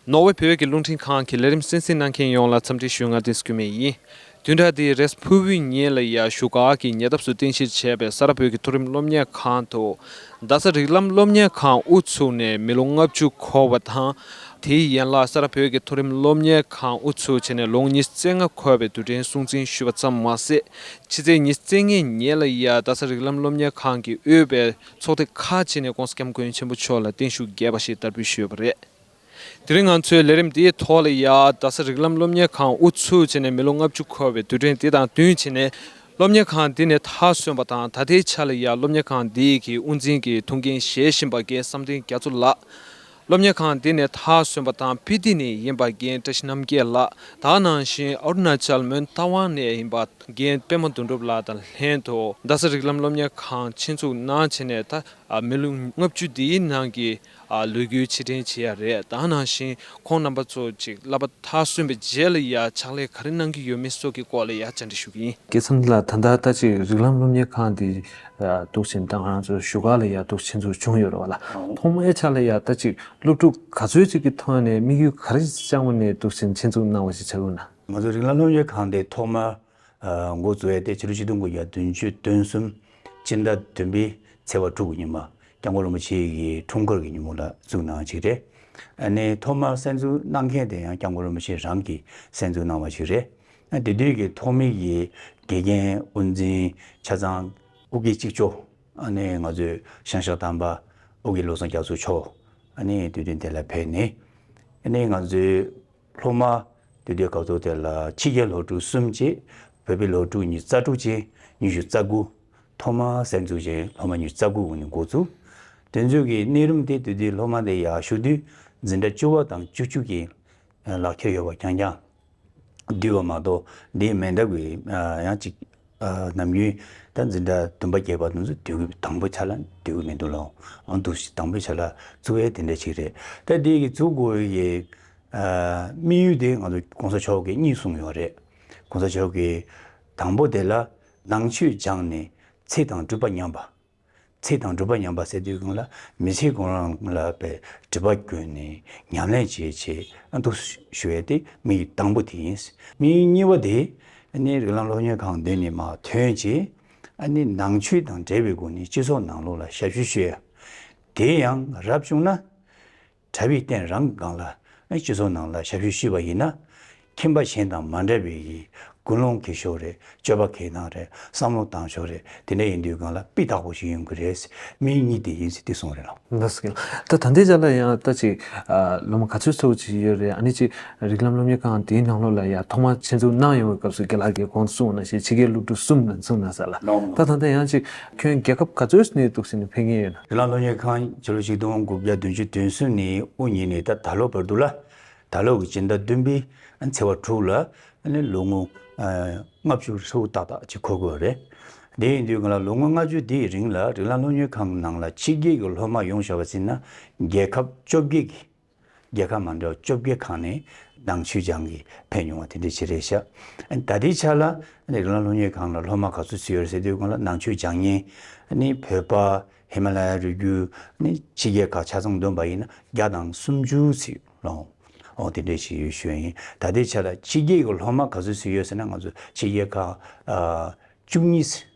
ནོར་ཝེ་བོད་ཀྱི་རླུང་འཕྲིན་ཁང་གི་ལས་རིམ་གསན་གཟིགས་གནང་མཁན་ཡོངས་ལ་འཚམས་འདྲི་ཞུ་སྔ་ལྟས་སྐུལ་མེད་ཡིན། བདུན་ཕྲག་འདིའི་རེས་ཕུར་བུའི་ཉིན་ལ་ཡར་ཞུ་ག་གི་ཉེ་འདབས་སུ་རྟེན་གཞི་བྱས་པའི་ས་རཱ་བོད་ཀྱི་མཐོ་རིམ་སློབ་གཉེར་ཁང་དུ། རྡ་ས་རིགས་ལམ་སློབ་གཉེར་ཁང་དབུ་ཚུགས་ནས་མི་ལོ་ལྔ་བཅུ་འཁོར་བ་དང། དེའི་ཡན་ལག་ས་རཱ་བོད་ཀྱི་མཐོ་རིམ་སློབ་གཉེར་ཁང་དབུ་ཚུགས་བྱས་ནས་ལོ་གཉིས་བརྩེགས་ལྔ་འཁོར་བའི་དུས་དྲན་སྲུང་བརྩི་ཞུས་པ་ཙམ་མ་ཟད། ཕྱི་ཚེས་ཉི་བརྩེགས་ལྔའི་ཉིན་ལ་དབྱར་རྡ་ས་རིགས་ལམ་སློབ་གཉེར་ཁང་གི་དབུས་པའི་ཚོགས་སྡེ་ཁག་ཅིག་ནས ྋགོང་ས ྋསྐྱབས་མགོན་ཆེན་པོ་མཆོག་ལ་བརྟན་བཞུགས་རྒྱས་པ་ཞིག་བསྟར་འབུལ་ཞུས་པ་རེད། དེ་རིང་ང་ཚོས་ལས་རིམ་དེའི་ཐོག་ལ་དབྱར་རྡ་ས་རིགས་ལམ་སློབ་གཉེར་ཁང་དབུ་ཚུགས་བྱས་ནས་མི་ལོ་ལྔ་བཅུ་འཁོར་བའི་དུས་དྲན་དེ་དང་བསྟུན་བྱས་ནས། སློབ་གཉེར་ཁང་འདི་ནས་མཐའ་སོན་པ་དང་ད་ལྟའི་ཆར་ལ་དབྱར་སློབ་གཉེར་ཁང་འདི་གི་དབུ་འཛིན་གྱི་ཐུགས་འགན་བཞེས་བཞིན་པ་སྐལ་བཟང་བསྟན་རྒྱ་མཚོ་ལགས་སློབ་གཉེར་ཁང་འདི་ནས་དར་སོན་པ་དང་སྤི་ཏི་ནས་ཡིན་པ་རྒན་བཀྲ་ཤིས་རྣམ་རྒྱལ་ལགས་དང་ནང་བཞིན་ཨ་རུ་ནཱ་ཅལ་མོན་རྟ་དབང་ནས་ཡིན་པ་རྒན་པད་མ་དོན་གྲུབ་ལགས་དང་ལྷན་དུ་རྡ་ས་རིགས་ལམ་སློབ་གཉེར་ཁང་ཆེད་འཛུགས་གནང་བྱས་ནས་ད་མི་ལོ་ལྔ་བཅུ་འདིའི་ནང་གི་ལོ་རྒྱུས་ཕྱིར་དྲན་བྱེད་ཡ་རེད་དང་ནང་བཞིན་ཁོང་རྣམ་པ་ཚོ་གཅིག་བསླབ་པ་དར་སོན་པའི་རྗེས་ལ་ཡ་ཕྱག་ལས་ག་རེ་གནང་གི་ཡོད་མེད་སོགས་ཀྱི་སྐོར་ལ་ཡ་བཅར་འདྲི་ཞུ་གི་ཡིན། དེ་མཚམས་ལ་ད་ལྟ་ལྟ་ཅི་རིགས་ལམ་སློབ་གཉེར་ཁང་འདི་གཏུགས་ཆེན་བཏང་རང་ཚོའི་བཞུགས་སྒར་ལ་ཡར་གཏུགས་ཆེན་ཚུགས་བྱུང་ཡོད་རེད་བ་ལ། ཐོག་མའི་ཆ་ལ་ཡར་ལྟ་ཅིག་སློབ་ཕྲུག་ག་ཚོད་ཅིག་གི་ཐོག་ནས་དམིགས་ཡུལ་ག་རེ་བཅངས་བ་ནས་གཏུགས་ཆེན་ཆེན་ཚུགས་གནང་བ་ཞིག་བྱ་དགོས་ན། ང་ཚོ་རིག་ལམ་སློབ་གཉེར་ཁང་དེ་ཐོག་མར་མགོ་བཙུགས་ཡས་དེ་ཕྱི་ལོ་ཆིག་སྟོང་དགུ་བརྒྱ་བདུན་ཅུ་དོན་གསུམ་སྤྱི་ཟླ་བདུན་པའི་ཚེས་བར་དྲུག་གི་ཉིན་མ་སྐྱབས་མགོན་རིན་པོ་ཆེ་ཡི་འཁྲུངས་སྐར་གྱི་ཉིན་མོ་ལ་བཙུགས་གནང་ཞིག་རེད། ཨ་ནི་ཐོག་མར་གསན་བཙུགས་གནང་མཁན་དེ་ཡང་སྐྱབས་མགོན་རིན་པོ་ཆེ་རང་གིས་གསན་བཙུགས་གནང་བ་ཞིག་རེད། དེ་དུས་ཀྱི་ཐོག་མེད་ཀྱི་དགེ་རྒན་དབུ་འཛིན་ཆ་ཚང་དབུ་ཁའི་གཅིག་ཆོག་ནི་ང་ཚོའི་ཤང་ཤག་དམ་པ་དབུ་ཁའི་བློ་བཟང་རྒྱ་མཚོ་མཆོག་ནི་དུས་སྟོན་དེ་ལ་ཕེབས་ནས་ནི་ང་ཚོའི་སློབ་མ་དུས་སྟོན་སྐབས་ཐོག་དེ་ལ་ཕྱི་རྒྱལ་སློབ་ཕྲུག་གསུམ་བཅས་བོད་པའི་སློབ་ཕྲུག་ཉིས་རྩ་དྲུག་ཅན་ཉི་ཤུ་རྩ་དགུ། ཐོག་མར་གསར་འཛུགས་ཅན་སློབ་མ་ཉིས་རྩ་དགུ་དབུ་ནས་འགོ་བཙུགས། དུས་མཇུག་གི་གནས་རིམ་དེ་དུས་དེའི་སློབ་མ་དེ་ཡག་ཤོས་དུས་འཛིན་གྲྭ་བཅུ་བ་དང་བཅུ་བཅུ་གྱི་ལག་ཁྱེར་ཡོད་པ་རྐྱང་རྐྱང། བསྡུས་པ་མ་གཏོགས་དེ་མི་འདྲ་བའི་ཡང་ཅིག་ནམ་རྒྱུན་ད་འཛིན་གྲྭ་བདུན་པ་བརྒྱད་པ་དེ་ཚོ་བསྡུ་གི་དང་པོ་ཆ་ལ་བསྡུ་གི་མི་འདུག་ལ་འོང་དུ་དང་པོ་ཆ་ལ་བཙུགས་ཡས་དེ་འདྲ་ཞིག་རེད་ད་དེ་གི་བཙུགས་དགོས་ཡས་དམིགས་ཡུལ་དེ་ང་ཚོ་གོང་ས་མཆོག་གིས་གཉིས་གསུངས་ཡོད་རེད་གོང་ས་མཆོག་གིས་དང་པོ་དེ་ལ་ནང་ཆོས་སྦྱངས་ནས་ཚེ་དང་སྤྲུལ་པ་ཉམས་པ། ཚིག་དང་སྒྲུབ་པ་ཉམས་པ་བསལ་དུས་གང་ལ་མི་ཚེའི་དགོངས་རང་ལ་པའི་སྒྲིབ་པ་ཀུན་ནས་ཉམས་ལེན་བྱེད་ཆེད་འདུག་ཞུ་བའི་ཏེ་མི་ཡི་དང་པོ་དེ་ཡིན། མི་ཡི་གཉིས་པ་དེ་ནི་རིགས་ལམ་སློབ་གཉེར་ཁང་འདི་ནས་མ་ཐོན་ཅིག་ནང་ཆོས་དང་འབྲེལ་བའི་སྒོ་ནས་སྤྱི་ཚོགས་ནང་ལུགས་ལ་ཞབས་ཞུ་བྱོས། དེ་ཡང་རབ་བྱུང་ན། གྲྭ་བའི་སྟེང་རང་གི་སྒང་ལ་སྤྱི་ཚོགས་ནང་ལ་ཞབས་ཞུ་ཞུས་པ་ཡིན་ན། ཁྱིམ་པ་གཞན་དང་མ་འདྲ་བའི་ཡིད་ཀུན་སློང་གི་ཞོར་རེད་སྤྱོད་པ་གལ་གནང་རེད་བསམ་བློ་བཏང་ཞོར་རེད་དེ་འདྲ་ཡིན་དུས་སྒང་ལ་དཔེ་དག་པོ་ཞིག་ཡོང་གི་རེད་མི་གཉིས་དེ་ཡིན་ཟེར་དུས་སོང་རེད་ལ། ད་ད་ལྟའི་ཆ་ལ་ཡང་ལྟ་ཅིག་སློབ་མ་ག་ཚོད་ཚོད་ཅིག་ཡོད་རེད་ཨ་ནི་ཅིག་རིགས་ལམ་སློབ་གཉེར་ཁང་དེའི་ནང་ལོགས་ལ་ཡང་ཐོག་མར་ཆེད་འཛུགས་གནང་ཡོང་བའི་སྐབས་སུ་དགེ་ལགས་ཀྱིས་གོང་དུ་གསུངས་བ་ན་ཞེས་ཕྱི་རྒྱལ་སློབ་ཕྲུག་གསུམ་ནང་ཚུགས་གནང་ས་ལ་ད་ད་ལྟ་ཡང་ཅིག་ཁྱོད་རྒྱལ་ཁབ་ག་ཚོད་སྣེ་གཏུགས་ཟིན་ནས་ཕེབས་ངེས་ཡོད་ན། དེ་ལ་སློབ་གཉེར་ཁང་ཕྱི་ལོ་ཆིག་སྟོང་དགུ་བརྒྱ་བདུན་ཅུ་དོན་གསུམ་ནས་དབུ་བརྙེས་ནས་ད་ད་ལོ་བར་འདུག་ལ། ད་ལོ་གི་སྤྱི་ཟླ་བདུན་པའི་ཚེས་བ་དྲུག་ལ་ལོ་ངོ་ལྔ་བཅུ་ཧྲིལ་པོ་ཏག་ཏག་ཅིག་འཁོར་དགོས་པ་རེད། དེ་ཡིན་དུས་ང་ལ་ལོ་ངོ་ལྔ་བཅུ་དེའི་རིང་ལ་རི་ལང་སློབ་གཉེར་ཁང་གི་ནང་ལ་ཕྱི་རྒྱལ་གྱི་སློབ་མ་ཡོང་བཞག་པ་ཟིན་ན་རྒྱལ་ཁབ་བཅོ་བརྒྱད་ཀྱི་རྒྱལ་ཁབ་མ་འདྲ་བ་བཅོ་བརྒྱད་ཁག་ནས་ནང་ཆོས་སྦྱང་གིས་ཕེབས་མྱོང་བ་དེ་འདྲའི་བྱེད་རེས་བྱ། ད་ལྟའི་ཆར་ལ་རི་ཀླུང་ལྷོ་ཉེ་གང་ལ་སློབ་མ་ག་ཚོད་ཚུད་ཡོད་རེད་ཟེར་དུས་ཁོང་ལ་ནང་ཆོས་སྦྱང་ཉིན་ནི་བོད་པ་ཧི་མ་ལ་ཡ་རུ་རྒྱུ་ནི་ཕྱི་རྒྱལ་ཁག་ཆ་ཚང་བསྡོམས་པ་ཡིན་ན་བརྒྱ་དང་སུམ་ཅུ་ཚུད་ལོངས། ཨོ་དེ་འདྲའི་ཞིག་ཡོད་ཤོད་ཡིན་ད་ལྟའི་ཆར་ལ་ཕྱི་རྒྱལ་གྱི་སློབ་མ་ག་ཚོད་ཚུད་ཡོད་ཟེར་ན་ང་ཚོ་ཕྱི་རྒྱལ་ཁག་བཅུ་གཉིས་ཚུད།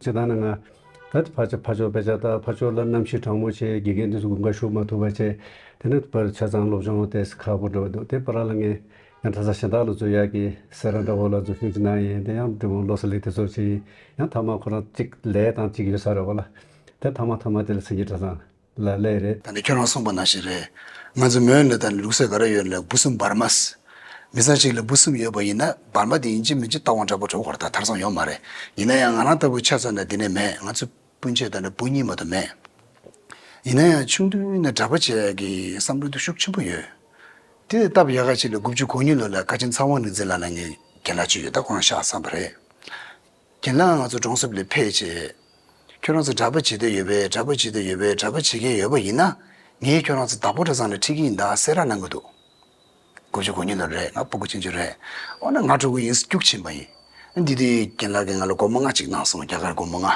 ཅེས་དང་ནི་ང། ད་དེ་ཕ་ཕྱིར་ཕ་ཕྱོགས་པས་ཅག་ད་ཕ་ཕྱོགས་ལ་ནམ་ཞིག་དྲང་མོ་ཆེའི་དགེ་རྒན་དུས་སུ་དགུན་ཁ་ཞུགས་མ་ཐུབ་པ་བྱས། དེ་ནི་བར་ཆ་ཚང་སློབ་སྦྱོང་ལྟས་སུ་ཁག་པོ་འགྲོ་བ་འདུག་དེ་བར་ར་ལ་ངས། ཡང་དྷ་ས་ཞིང་བདག་ལ་འཛུལ་ཡག་གིས་ཟེར་ར་འདྲ་བོ་ལ་འཛུལ་ཤུགས་ཅི་འདང་ཡིན་དེ་ཡང་འབྲི་མོ་བློ་ས་ལས་དེ་ཚོར་བྱས་ཡིན་ཡང་མཐའ་མ་ཁོ་རང་གཅིག་ལས་དང་གཅིག་ཡོད་ས་རེད་བ་ལ། དེར་མཐའ་མ་མཐའ་མ་དེ་ལ་ཚིག་གི་གྲ་ཚང། ལ་ལས་རེད། ད་ནི་ཁྱོད་རང་གསུངས་པ་ན་ཞིག་རེད། ང་ཚོ་མོན་ལེ་དང་ནི་ལུགས་སྲོལ་ག་རེ་ཡོད་ལ་འབུ་སྲུམ་འབར་མཱས། མི་ཚང་ཞིག་ལ་འབུ་སྲུམ་ཡོད་པ་ཡིན་ན་འབར་མཱ་དེ་ཡིན་གཅིག་མིན་གཅིག་རྟ་བོང་འདྲ་པོ་གྲོགས་བར་དག་ཐར་སོང་ཡོད་མ་རེད། ཡིན་ན་ཡང་ང་རང་ལྟ་བུ་ཆ་ཚང་ན་འདི་ནས་མེད་ང་ཚོ་སྤུན་མཆེད་དང་ནི་འབུ་གཉིས་མ་དུ་མེད། ཡིན་ན་ཡང་ཆུང་དུས་ནས་གྲྭ་པ་བྱས་ཀྱི་བསམ་བློ་དུ་ཤུགས་ཆེན་པོ་ཡོད། དེ་ལས་སྟབས་ཡག་ག་ཅིག་ལ་དགུ་བཅུ་གོ་གཉིས་ལོ་ལ་ཀ་ཆེན་ཚ་བང་ནི་འཛིན་ལ་ལ་ངའི་རྒན་ལགས་གཅིག་ཡོད་ད་ཁོ་རང་ཤག་བསམ་པ་རེད། གྱིན་ལ་ང་ཚོ་གྲོང་གསེབ་ལས་ཕེད་ཅེས། ཁྱོད་རང་ཚོ་གྲྭ་པ་བྱེད་འདོད་ཡོད་པས་གྲྭ་པ་བྱེད་འདོད་ཡོད་པས་གྲྭ་པ་བྱེད་མཁན་ཡོད་པ་ཡིན་ན། ངས་ཁྱོད་རང་ཚོ་བདག་པོ་གྲྭ་ཚང་ལ་ཁྲིད་ཀྱི་ཡིན་ད་ཟེར་ར་གནང་གི་འདུག་དགུ་བཅུ་གོ་གཉིས་ལོར་རེད་ང་སྤོ་དགུ་ཕྱིན་རྒྱུ་རེད། འོ་ན་ང་གྲོ་གུ་ཡིན་སྐྱུག་ཕྱིན་པ་ཡིན། འདི་དུས་གྱིན་ལ་གིས་ང་ལ་སྒོར་མོ་ལྔ་གཅིག་གནང་སོང་རྒྱ་གར་སྒོར་མོ་ལྔ།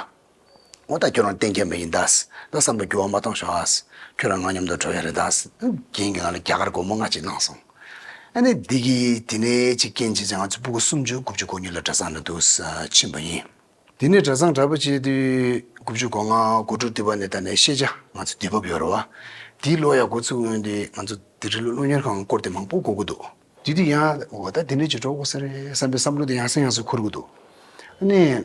ངོ་ད་ཁྱོད་རང་གཏན་འཁྱལ་མ་ཡིན་དཱས། ད་བསམ་བློ་འགྱུར་བ་མ་གཏོང་ཞོག་ཨཱས། ཁྱོད་རང་ངའ་མཉམ་དུ་འགྲོ་ཡ་རེད་དཱས། རྒན་གྱིས་ང་ལ་རྒྱ་གར་སྒོར་མོ་ལྔ་གཅིག་གནང་སོང། ཨ་ནེ་འདི་གིས་དེ་ནས་ཅིག་རྐྱེན་བྱས་ཚེ་ང་ཚོ་སྤུ་གུ་སུམ་ཅུ་དགུ་བཅུ་གོ་གཉིས་ལ་གྲྭ་ཚང་ལ་འདུག་ས་ཕྱིན་པ་ཡིན། དེ་ནས་གྲྭ་ཚང་གྲྭ་པ་བྱས་དུས་དགུ་བཅུ་གོ་ལྔ་གོ་དྲུག་འདི་བར་ནས་ད་ནས་ཤེས་བྱ་ང་ཚོ་དུས་བབ་ཡོད་རེད་བ། དེའི་ཀློག་ཡག་འགོ་ཚུགས་སྔོན་དུས་ང་ཚོ་དེ་རི་ལུ་སློབ་གཉེར་ཁང་བསྐོར་དུས་མང་པོ་གོ་གི་འདུག། དེ་དུས་ཡང་འོ་ད་དེ་ནས་ཅིག་འགྲོ་དགོ་ས་རེད་བསམ་པའི་བསམ་བློ་དེ་ཡང་སེང་ཡང་སུ་འཁོར་གི་འདུག། ཨ་ནེ།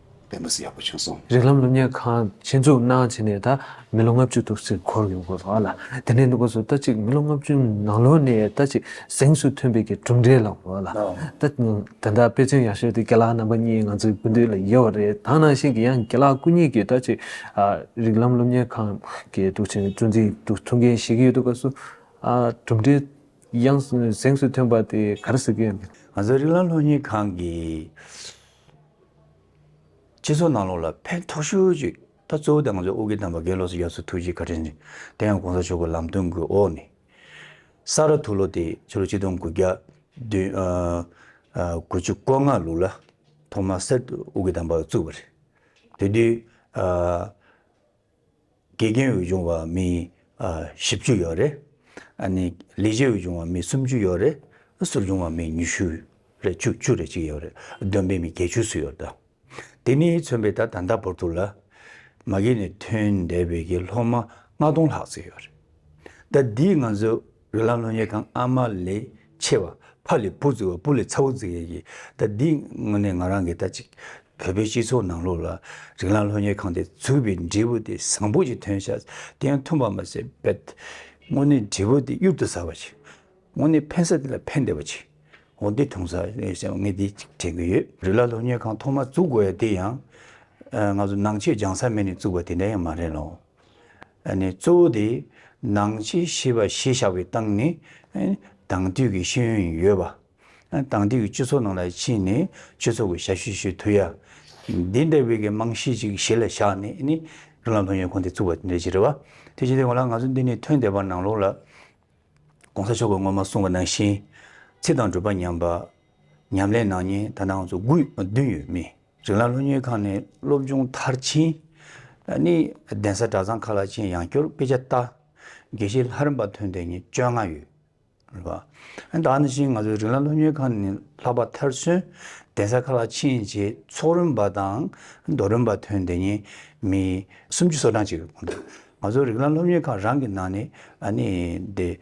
དཔེ་མི་སྲིད་ཡག་པོ་བྱུང་སོང། རིགས་ལམ་སློབ་གཉེར་ཁང་ཆེད་འཛུགས་གནང་བྱས་ནས་ད་མི་ལོ་ལྔ་བཅུ་ཐུབ་ཟིན་འཁོར་ཡོང་དགོས་པ་ལ་དེ་ནས་འདི་སྐོར་སུ་ད་ཅིག་མི་ལོ་ལྔ་བཅུ་ནང་ལོ་ནས་ད་ཅིག་གཟེངས་སུ་ཐོན་པའི་གི་གྲུབ་འབྲས་ལ་དགོས་ལ་ད་དེ་འདྲ་དཔེ་མཚོན་ཡག་ཤོས་དེ་ཁྱེད་ལག་རྣམ་པ་གཉིས་ང་ཚོའི་སྐུ་མདུན་ལ་ཡོད་པ་རེད་ད་ནང་བཞིན་གྱི་ཡང་ཁྱེད་ལག་སྐུ་གཉིས་ཀྱིས་ད་ཅིག་རིགས་ལམ་སློབ་གཉེར་ཁང་གི་དུག་ཆེན་གཙོ་འཛིན་དུ་ཐུགས་འགན་བཞེས་ཀྱི་ཡོད་དུ་སྐབས་སུ་གྲུབ་འབྲས་ཡང་གཟེངས་སུ་ཐོན་པ་དེ་ག་རེ་ཟེར་གི། ང་ཚོའི་རིགས་ལམ་སློབ་གཉེར་ཁང་གི། སྤྱི་ཚོགས་ནང་ལོགས་ལ་ཕན་ཐོགས་ཤོས་ཀྱིས་ད་གཙོ་བོ་དེ་ང་ཚོ་ཨོ་རྒྱན་དམ་པ་དགེ་ལོགས་སུ་ཡར་ཚུར་ཐུགས་རྗེས་བཀའ་དྲིན་ཆེ་དེ་ཡང་གོང་ས་མཆོག་གི་ལམ་སྟོན་དགུའི་འོག་ནས་ས་རཱ་དྷུ་ལོ་དེ་ཕྱི་ལོ་གཅིག་སྟོང་དགུ་བརྒྱ་དགུ་བཅུ་གོ་ལྔ་ལུགས་ལ་ཐོག་མར་གསེར་ཏུ་ཨོ་རྒྱན་དམ་པ་བཙུགས་པ་རེད་དེ་དུས་དགེ་རྒན་འོས་སྦྱོང་བ་མི་བཞི་བཅུ་ཡོད་རེད། ལས་བྱེད་འོས་སྦྱོང་བ་མི་སུམ་ཅུ་ཡོད་རེད། ཟུར་སྦྱོང་བ་མི་ཉི་ཤུ་རེད་བཅུ་བཅུ་རེད་ཅིག་ཡོད་རེད་འདོན་པའི་མི་བརྒྱད་ཅུ་སུ་ཡོད་དམ། དེ་ནི་མཚོན་པའི་ད་ད་བོར་འདུག་ལ། མ་གིས་ནས་ཐོན་འདས་བོད་ཀྱི་སློབ་མ་ལྔ་སྟོང་ལྷག་ཙིག་ཡོད་རེད། ད་འདིས་ང་ཚོའི་རོལ་ལམ་ལོ་ཉེས་ཁང་ཨ་མ་ལས་ཆེ་བ་ཕ་ལས་བུ་རྫི་བ་བུ་ལས་ཚ་བོ་རྫི་ཡས་ཀྱིས་ད་འདི་དངོས་གནས་ང་རང་གིས་ད་ཅིག་བོད་པའི་སྤྱི་ཚོགས་ནང་ལོགས་ལ་རིག་ལམ་ལྷོ་ཉེས་ཁང་དེ་འཛུགས་པའི་འབྲས་བུ་དེ་བཟང་པོ་ཞིག་ཐོན་ཤག་དེ་ཡང་ཐོན་པར་མ་ཟད་བེད་དངོས་གནས་འབྲས་བུ་དེ་གཡུར་དུ་ཟ་བ་ཞིག་དངོས་གནས་ཕན་ས་དེ་ལ་ཕན་བདེ་བ་ཅིག་འོ་འདི་ཐོང་ས་ངས་ཞེ་ངས་འདི་ཅིག་དྲན་གྱི་ཡོད། རིག་ལམ་ལྷོ་ཉེས་ཁང་ཐོག་མ་བཙུགས་དགོས་ཡ་དེ་ཡང། ང་ཚོ་ནང་ཆོས་སྦྱང་ས་མེད་ནས་བཙུགས་པ་དེ་འདྲ་ཡང་མ་རེད་ལོ། གཙོ་བོ་དེ། ནང་ཆེ་ཤེས་པ་ཞེས་བྱ་བའི་སྟངས་ནི། དང་དུས་ཀྱི་ཤེས་ཡོན་ཡིན་ཡོད་པ། དང་དུས་ཀྱི་སྤྱི་ཚོགས་ནང་ལ་ཕྱིན་ནས་སྤྱི་ཚོགས་ཀྱི་ཞབས་ཞུ་ཞུ་དུས་ཡ། འདི་འདྲ་བའི་རྨང་གཞི་ཅིག་གཞི་ལ་བཞག་ནས་ནི། རང་ལ་ལྷུན་ཡོད་ཁོང་དེ་བཙུགས་པ་དེ་འདྲ་ཞིག་རེད་བ། དེ་བཞིན་དུ་ཡང་ང་ལ་ང་ཚོ་འདི་ནས་ཐོན་བསྡད་པ་ནང་ལོགས་ལ། ྋགོང་ས་མཆོག་གིས་སྔོན་མ་གསུངས་པ་ནང་བཞིན། ཚིག་དང་སྒྲུབ་པ་ཉམས་པ། ཉམས་ལེན་ནང་ཉིན་ད་ནང་ཚོ་དགུ་བདུན་ཡོད་མི། རིང་ལ་སློབ་གཉེར་ཁང་ནས་སློབ་སྦྱོང་མཐར་ཕྱིན། ནི་གདན་ས་གྲྭ་ཚང་ཁག་ལ་ཆེད་ཡང་སྐྱོར་དཔེ་ཆ་བལྟ། དགེ་བཤེས་ལྷ་རམས་པ་ཐོན་ཏེ་ཉིན་བཅོ་ལྔ་ཡོད། རེད་པ། ད་ནི་བཞིན་ང་ཚོའི་རིང་ལ་སློབ་གཉེར་ཁང་ནས་ལྷག་པ་མཐར་སོན། གདན་ས་ཁག་ལ་ཕྱིན་རྗེས་ཚོགས་རིམ་པ་དང་མདོ་རིམ་པ་ཐོན་ཏེ་ཉིན་མི་སུམ་ཅུ་སོ་གྲངས་ཅིག་གོང་དུ། ང་ཚོའི་རིང་ལ་སློབ་གཉེར་ཁང་རང་གི་ནང་ནས་ནི་དེ།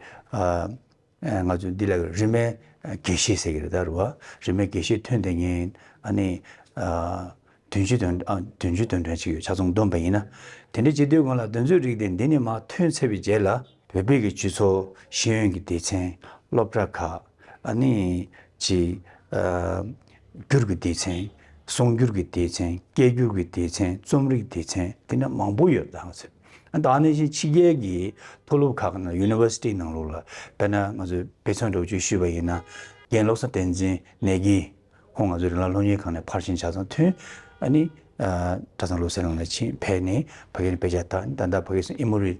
ང་ཚོས་འདི་ལ་རིས་མེད་དགེ་བཤེས་ཟེར་གྱི་རེད་ད་རུ་བ། རིས་མེད་དགེ་བཤེས་ཐོན་དེ་ཉིན། ཨ་ནི། དོན་གཅིག་དོན། དོན་གཅིག་དོན་དྲན་གཅིག་ཡོད་ཆ་ཚང་བསྡོམས་པ་ཡིན་ན། དེ་འདྲའི་སྤྱི་འཐུས་དགོངས་ལ་དོན་གཙོའི་རིགས་དེ་འདི་ནས་མ་ཐོན་ཚར་བའི་རྗེས་ལ། བོད་པའི་གི་ཇུས་ཚོགས་ཤེས་ཡོན་གྱི་སྡེ་ཚན། སློབ་གྲྭ་ཁག། ཨ་ནི། གཅིག། སྒྱུར་གྱི་སྡེ་ཚན། གསུང་སྒྱུར་གྱི་སྡེ་ཚན། སྐད་སྒྱུར་གྱི་སྡེ་ཚན། རྩོམ་རིག་སྡེ་ཚན། འདི་འདྲ་མང་པོ་ཡོད་ད་ང་ཚོས། ད་ནས་བཞིན་ཕྱི་རྒྱལ་གྱི་མཐོ་སློབ་ཁག་ནང University ནང་ལོགས་ལ་དཔེར་ན་ང་ཚོས་དཔེ་མཚོན་སྒྲོག་བརྗོད་ཞུས་པ་ཡིན་ན། རྒན་བློ་བཟང་བསྟན་འཛིན་ནེ་གི་ཁོང་ང་ཚོའི་རིང་ལ་སློབ་གཉེར་ཁང་ནས་ཕར་ཕྱིན་ཆ་ཚང་མཐུན། ཨ་ནི། གྲྭ་ཚང་སློབ་སའི་ནང་ལ་ཕྱིན་ཕེབས་ནས་བོད་སྐད་ནས་དཔེ་ཆ་དག་ད་ལྟ་བོད་སྐད་སིནཧེ་མུ་རི།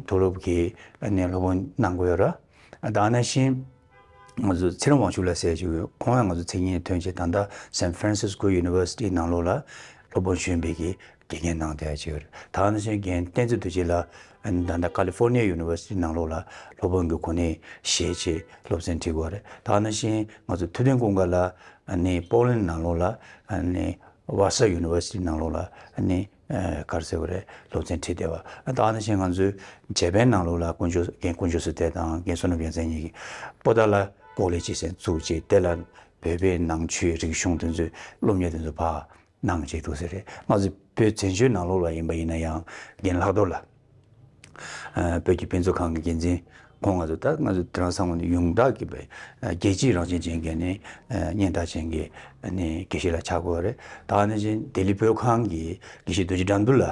མཐོ་སློབ་ཀྱི་ནས་སློབ་དཔོན་གནང་དགོས་ཡོད་ར། ད་ནས་བཞིན། ང་ཚོ་ཚེ་རིང་དབང་ཕྱུག་ལ་ཟེར་ཞིག་ཁོང་ཡང་ང་ཚོ་མཚན་ཉིད་ཐོན་ཆེད་ད་ལྟ San Francisco University ནང་ལོགས་ལ་སློབ་དཔོན་གཞོན་པའི་གི་དགེ་རྒན་གནང་བསྡད་ཅིག་རེད་ད་ནི་སོན་རྒན་བསྟན་འཛིན་དུ་ཆེད་ལ་ད་ལྟ California University ནང་ལོགས་ལ་སློབ་དཔོན་གི་གོ་གནས་བཞེས་ཆེད་སློབ་ཚན་འཁྲིད་དགོས་རེད་ད་ནི་བཞིན་ང་ཚོ་ཐུབ་བསྟན་ཀུན་དགའ་ལ་ནི Portland ནང་ལོགས་ལ་ནི Vassar University ནང་ལོགས་ལ་ནི། གར་ཟེར་བ་རེད་སློབ་ཚན་ཁྲིད་བསྡད་པ། ད་ནི་ཕྱིན་ང་ཚོའི་བྱེས་པའི་ནང་ལུགས་ལ་དཀོན་མཆོག་རྒན་དཀོན་མཆོག་ཟེར་དེ་དང་རྒན་བསོད་ནམས་རྒྱལ་མཚན་གཉིས་ཀྱིས་པོ་ཏཱ་ལ་ཀོག་ལེ་ཅེས་ཟེར་བཙུགས་རྗེས་དེ་ལ་བོད་པའི་ནང་ཆོས་རིག་གཞུང་དེ་ཚོས་སློབ་གཉེར་དེ་ཚོ་བག་གནང་བྱས་འདུག་ཟེར་རེད་ང་ཚོ་བོད་བཙན་བྱོལ་ནང་ལུགས་ལ་ཡིན་པ་ཡིན་ན་ཡང་རྒན་ལྷག་རྡོར་ལ། བོད་ཀྱི་དཔེ་མཛོད་ཁང་གི་འགན་འཛིན་ཁོང་ང་ཚོ་ལྟར་ང་ཚོ་དེ་རིང་སང་ངོ་ཡོངས་གྲགས་ཀྱི་བའི་རྒྱལ་སྤྱིའི་རང་བཞིན་ཅན་གྱི་ནི་སྙན་གྲགས་ཅན་གྱི་ནི་དགེ་བཤེས་ལ་ཆགས་དགོས་པ་རེད། ད་ནི་བཞིན་ལྡི་ལི་བོད་ཁང་གི་དགེ་བཤེས་རྡོ་རྗེ་དགྲ་འདུལ་ལ་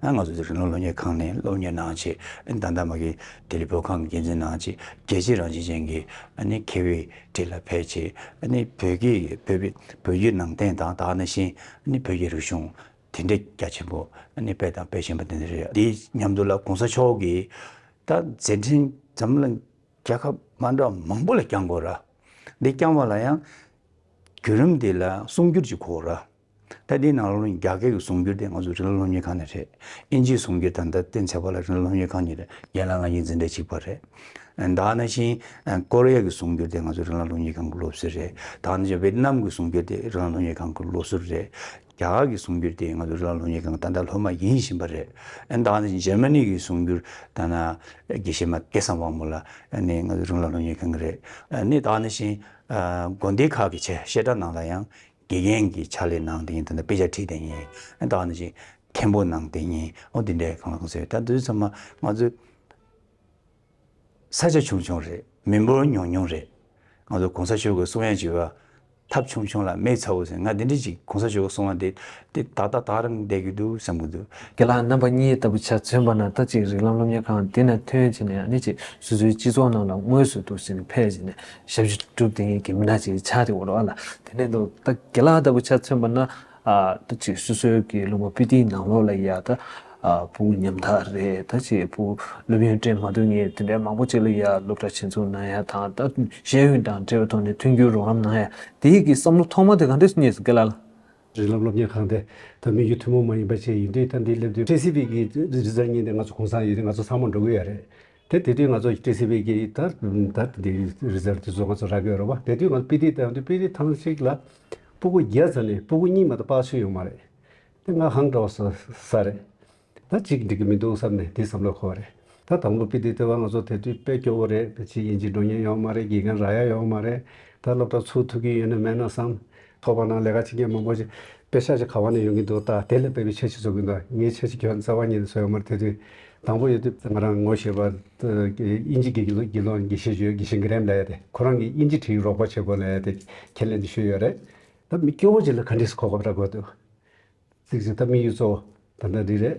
ང་ཚོ་དེ་རིང་སློབ་གཉེར་ཁང་ནས་སློབ་གཉེར་གནང་ཆེད་ད་ལྟ་མ་གི་ལྡི་ལི་བོད་ཁང་གི་འགན་འཛིན་གནང་ཆེད་རྒྱལ་སྤྱིའི་རང་བཞིན་ཅན་གྱི་ནི་མཁས་བའི་ཁྲི་ལ་ཕེབས་ཆེད་ནི་བོད་ཀྱི་བོད་ཀྱི་ནང་བསྟན་དང་ད་ནི་བཞིན་ནི་བོད་ཀྱི་རིག་གཞུང། དེ་འདྲའི་རྒྱ་ཆེན་པོ་ནས་སྤེལ་དང་སྤེལ་བཞིན་པ་དེ་འདྲ་རེད། དེའི་མཉམ་དུ་ལ་གོང་ས་མཆོག་གིས་ད་མཛད་འཕྲིན་འཛམ་གླིང་རྒྱལ་ཁབ་མང་གྲགས་མང་པོ་ལ་བསྐྱང་དགོས་ར། འདི་བསྐྱང་བ་ལ་ཡང་བརྒྱུད་རིམ་དེ་ལ་གསུང་བསྒྱུར་གྱི་གོ་ར། ད་དེའི་ནང་ལོ་རྒྱ་སྐད་ཀྱི་གསུང་བསྒྱུར་དེ་ང་ཚོ་རི་ལ་སློབ་གཉེར་ཁང་ནས་རེད། དབྱིན་ཇིའི་གསུང་བསྒྱུར་ད་ལྟ་བསྟན་ཚལ་བ་ལ་རི་ལ་སློབ་གཉེར་ཁང་ནས་རེད་ཡན་ལག་ལྔ་གཉིས་འཛིན་གྲྭའི་གཅིག་པ་རེད། ད་ནང་བཞིན་ཀོ་རི་ཡ་གི་གསུང་བསྒྱུར་དེ་ང་ཚོ་རི་ལ་སློབ་གཉེར་ཁང་གི་སློབ་གསོ་རེད། ད་ནང་བཞིན་ཝེ་ཏི་ནམ་གྱི་གསུང་བསྒྱུར་དེ་རི་ལ་སློབ་གཉེར་ཁང་གི་སློབ་གསོ་རེད། རྒྱ་གར་གྱི་གསུང་འགྱུར་དེ་ང་ཚོ་ལ་ལོ་གཉིས་གང་ད་ལྟ་ལྷོད་མ་ཡིན་བཞིན་པ་རེད། ཨན་ད་ནི་འཇར་མ་ནི་གྱི་གསུང་འགྱུར་ད་ནི་དགེ་བཤེས་མ་སྐལ་བཟང་དབང་མོ་ལ་ནི་ང་ཚོ་རང་ལ་ལོ་གཉིས་གང་གི་རེད། ནི་ད་ནི་བཞིན་དགོན་སྡེ་ཁག་གི་ཆེད་བཤད་གྲྭ་ནང་ལ་ཡང་དགེ་རྒན་གྱི་ཕྱག་ལས་གནང་དེ་ཉིན་ད་ནི་དཔེ་ཆ་ཁྲིད་དེ་ཉིན་ཨན་ད་ནི་བཞིན་མཁན་པོ་གནང་དེ་ཉིན་ཨོ་དེ་འདྲའི་གང་ལ་གང་ཟེར་ད་དུས་ཚོད་མ་ང་ཚོས། ས་ཆ་ཆུང་ཆུང་རེད། མི་འབོར་ཉུང་ཉུང་རེད། ང་ཚོ་གོང་ས་མཆོག་གི་གསུང་ཡ་བྱེད་པ། ཐབས་ཆུང་ཆུང་ལ་མེད་ཚ་བོ་ཟེར་ང་དེ་འདྲི་ཅིག་གོང་ས་མཆོག་གི་གསུང་བ་འདི་དེ་ད་ལྟ་དག་རིང་བསྡད་ཀྱི་འདུག་བསམ་གྱི་འདུག། དགེ་ལགས་རྣམ་པ་གཉིས་ལྟ་བུ་ཆ་མཚོན་པ་ན་ལྟ་ཅིག་རིགས་ལམ་སློབ་གཉེར་ཁང་དེ་ནས་ཐོན་བྱས་ནས་ཡང་ནི་ཅིག་སོ་སོའི་སྤྱི་ཚོགས་ནང་ལ་དངོས་སུ་འདུག་ཟིན་ནས་ཕལ་ཆེ་ནས་ཞབས་ཞུ་སྒྲུབ་དེ་ཉིད་ཀྱི་མི་སྣ་ཅིག་ཆགས་ཏེ་འོ་ལོ་ཨ་ལ་དེ་ནས་འདུག་ལྟ་དགེ་ལགས་ལྟ་བུ་ཆ་མཚོན་པ་ན་ད་ཅིག་སོ་སོའི་གི་བླུན་པོ་པི་ཏིའི་ནང་ལོགས་ལ་ཡ་ད་བུ་ཉམ་ཐག་རེད་ད་ཅིག་བུ་སློབ་ཡོན་སྤྲད་མ་འདུག་ངས་དེ་འདྲའི་མང་པོ་ཅིག་ལ་ཡ་སློབ་གྲ་བྱེད་འཚུགས་གནང་ཡ་དང་ད་ཤེས་ཡོན་དང་འབྲེལ་བའི་ཐོག་ནས་མཐུན་འགྱུར་རོགས་རམ་གནང་ཡ་དེའི་གི་བསམ་བློ་ཐོག་མ་དེ་ག་འདྲས་སུ་རྙེད་སོང་གི་ལ་ལ། རི་ལབ་སློབ་གཉེར་ཁང་དེ་ད་མི་རྒྱུ་ཐུན་མོང་མ་ཡིན་པ་བཅས་ཡིན་དུས་ད་འདི་སླེབས་དུས་ཕྲན་སི་པིག་གི་རི་རྩར་རྙེད་འདི་ང་ཚོ་གོང་ས་ཡིན་རིགས་ང་ཚོ་ཚང་མ་འགྲོ་གི་ཡ་རེད་དེ་དེ་དུས་ང་ཚོ་ཏི་སི་བྷི་གི་ད་ད་དེ་རི་ཟར་དེ་ཚོ་ང་ཚོ་ར་གའི་རོ་བ་དེ་དུས་ང་ཚོ་པི་ཏི་ཏའོ་དེ་པི་ཏི་ཐང་ཞིག་ལ་སྤུ་གུ་བརྒྱད་ཙམ་ནས་སྤུ་གུ་གཉིས་མ་གཏོགས་སྤགས་ཆུ་ཡོད་མ་རེད། དེ་ང་ཧང་འདྲ་བ་ས་ས་རེད། ད་གཅིག་འགྲིག་གི་མི་འདུག་བསམ་ནས་དེ་བསམ་བློ་འཁོར་བ་རེད། ད་དང་པོ་པི་ཏི་ཏའོ་བ་ང་ཚོ་དེ་དུས་དཔེ་སྐྱོ་བོ་རེད་དེ་ཕྱིན་དབྱིན་ཇི་འགྲོ་མྱོང་ཡོད་མ་རེད་དགེ་རྒན་ར་ཡ་ཡོད་མ་རེད། ད་སློབ་གྲྭ་ཚུགས་ཐུབ་ཀྱི་ཡོད་ན་མེད་ན་བསམ། ཐོག་པ་ན་ལས་ཀ་བྱེད་མཁན་མང་པོ་ཞིག་དཔེ་ཆ་ཞིག་ག་བ་ནས་ཡོང་གིན་འདུག་ད་དེ་ལས་དཔེ་མི་ཆ་ཞིག་བཟོ་གིན་འདུག་ངའི་ཆ་ཞིག་ཁྱོད་རྩ་བ་ཉིད་ནས་བཟོ་ཡོང་མར་དེ་དུས་དང་པོ་ཡོད་དུས་ང་རང་ངོ་ཤེས་པ། དབྱིན་ཇི་དགེ་རྒན་ལོ་དགེ་བཤེས་ཇོས་དགེ་བཤེས Graham ལ་ཡོད་དེ་ཁོ་རང་གིས་དབྱིན་ཇི་བྲིས་རོགས་པ་བྱེད་དགོས་ལ་ཡོད་དེ་ཁས་ལེན་དུ་ཞུས་ཡོད་རེད། ད་མི་སྐྱོ་བོ་ཅིག་ལ་ག་འདྲིས་གོ་སྐབས་རག་དགོས་འདུག་གཟིགས་ཅིག་ད་དམིགས་ཡུལ་གཙོ་བོ་ད་ལྟ་འདི་རེད།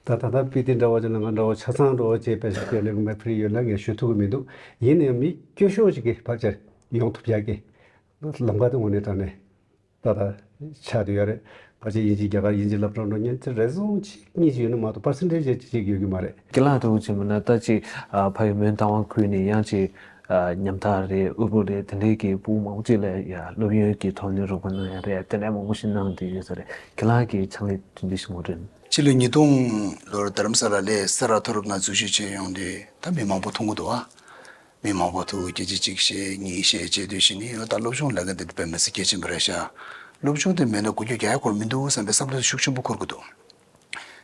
ད་ད་ལྟ་པི་ཏི་འདྲ་བ་ཅིག་ལ་ང་འདྲ་བོ་ཆ་ཚང་འགྲོ་ཅེས་དཔེ་ཆ་ཁས་ལེན་དགོས་མེད་ཕུལ་ཡོད་ལ་ངས་ཞུ་ཐུབ་ཀི་མི་འདུག་ཡིན་ནའང་མི་སྐྱོ་ཤོས་ཅིག་གི་བར་ཆད་ཡོང་ཐུབ་ཡག་གི། ལམ་ཁ་དེ་ངོ་ནས་དྲངས་ནས་ད་ལྟ་ཆགས་འདུག་ཡ་རེད། ཕར་ཕྱིན་དབྱིན་ཇིས་རྒྱ་གར་དབྱིན་ཇི་ལབ་དྲོ་འགྲོ་ཉན་ཚེ་རེ་ཟུང་གཅིག་གཉིས་ཅིག་ཡོད་ན་མ་གཏོགས་ཕར་ཕྱིན་འགྲེལ་བཤད་ཅིག་ཡོད་ཀྱི་མ་རེད། སྐྱིད་ལགས་ཐུགས་རྗེ་ཆེ་མིན་ན་ལྟ་ཅིག་ཕ་ཡུལ་མོན་རྟ་དབང་ཁུལ་ནི་གཡང་སྐྱིད་ཉམ་ཐག་རེད་དབུལ་པོ་རེད་དེ་འདྲའི་གི་བུ་མང་པོ་ཅིག་ལས་ཡ་སློབ་ཡོན་གྱི་ཐོག་ནས་རོགས་པ་གནང་ཡ་རེད་དེ་འདྲ་མང་པོ་ཞིག་གནང་དུས་ཡོད་ས་རེད་ཁྱེད་ལགས་ཀྱི་ཕྱག་ལས་དུས་འདི་ཞིག་ངོ་དྲན། ཕྱི་ལོ་ཉིས་སྟོང་ལོར་དརམ་ས་ལ་ལས་ས་ར་མཐོ་རུབ་ན་འཛུལ་ཞུགས་བྱས་ཡོང་དུས་ད་མི་མང་པོ་མཐོང་གི་འདུག་ཨ། མི་མང་པོ་ཐུགས་ཀྱི་རྗེ་གཅིག་བཤད་གཉིས་བཤད་ཅེས་བསྡོད་བཞིན་ནི་ལོ་ལྟར་སློབ་ཆུང་ལས་ཀ་འདི་འདི་པའི་མི་ཚེ་སྐྱེལ་གྱིན་པ་རེད་ཤག། སློབ་ཆུང་དེ་མེད་ན་དགུན་ཆོས་རྒྱ་ཡག་འཁོར་མི་འདུག་བསམ་པའི་བསམ་བློ་དེ་ཤུགས་ཆེན་པོ་འཁོར་གྱི་འདུག་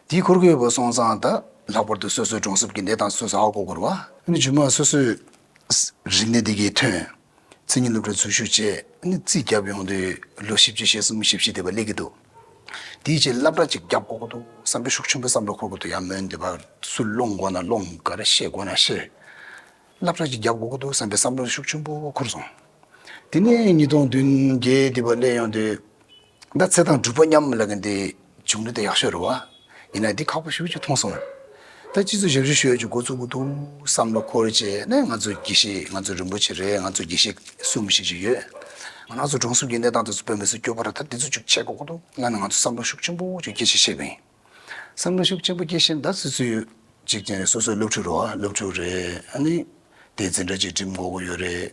དེའི་འཁོར་གྱི་ཡོད་པ་སོང་ཙང་ད་ལྷག་པར་དུ་སོ་སོའི་གྲོང་གསེབ་ཀྱི་གནས་སྟངས་སོ་སོས་ཧ་གོ་དགོས་རེད། ཨ་ནི་ཇུན་མ་སོ་སོས་རིག་གནས་དེ་གའི་ཐོན། མཚན་ཉིད་སློབ་གྲྭའི་འཛུལ་ཞུགས་བཅས་ཨ་ནི་རྩིས་རྒྱབ་ཡོང་དུས་ལོ་བཞི་བཅུ་ཞེ་གསུམ་བཞི་བཞི་བསྡད་པ་ལེགས་ཀྱི་འདུག། དེའི་རྗེས་བསླབ་གྲྭ་གཅིག་བརྒྱབ་དགོས་ཀྱི་འདུག་བསམ་པའི་ཤུགས་ཆེན་པོས་བསམ་བློ་འཁོར་དགོས་འདུག་ཡང་མོས་འདི་བར་སུ་སློང་དགོས་ན་སློང་ག་རེ་བཤད་དགོས་ན་བཤད། བསླབ་གྲྭ་གཅིག་བརྒྱབ་དགོས་ཀྱི་འདུག་བསམ་པའི་བསམ་བློ་ཤུགས་ཆེན་པོ་འཁོར་སོང། དེ་ནས་ཉིས་སྟོང་བདུན་བརྒྱད་དེ་བར་སླེབས་ཡོང་དུས། ད་ཚེ་དང་སྒྲུབ་པ་མཉམ་ལ་གི་འདི་བྱུང་ནི་དེ་ཡག་ཤོས་རེད་བ། ཡིན་ན་འདི་ཁག་པོ་ཞིག་ཅིག་མཐོང་སོང། ད་སྤྱི་ཚོགས་ཞབས་ཞུ་ཞུ་ཡོད་ཅིག་འགོ་བཙུགས་ཀྱི་འདུག་བསམ་བློ་འཁོར་རྗེས་ནས་ང་ཚོ་དགེ་བཤེས་ང་ཚོ་རིན་པོ་ཆེ་རེད་ང་ཚོ་དགེ་བཤེས་གསུམ་ཞིག་ཅིག་ཡོད། ང་ཚོ་གྲོང་གསུམ་གྱི་གནས་སྟངས་དེ་ཚོ་བོད་མི་ཚོས་སྐྱོ་པོ་ར་ད་འདི་ཚོ་ཅིག་བྱེད་དགོས་ཀྱི་འདུག་ང་ནི་ང་ཚོ་བསམ་བློ་ཤུགས་ཆེན་པོ་ཅིག་སྐྱེ་ཆེད་བཤད་ཀྱི་ཡིན། བསམ་བློ་ཤུགས་ཆེན་པོ་སྐྱེ་བཞིན་ད་སུད་སུད་ཡོད་ཅིག་ཅན་རེད་སོ་སོ་སློབ་ཕྲུག་རོ་སློབ་ཕྲུག་རེད་ཨ་ནི་དེ་འཛིན་གྲྭ་ཅིག་འགྲིམ་དགོས་ཀྱི་ཡོད་རེད།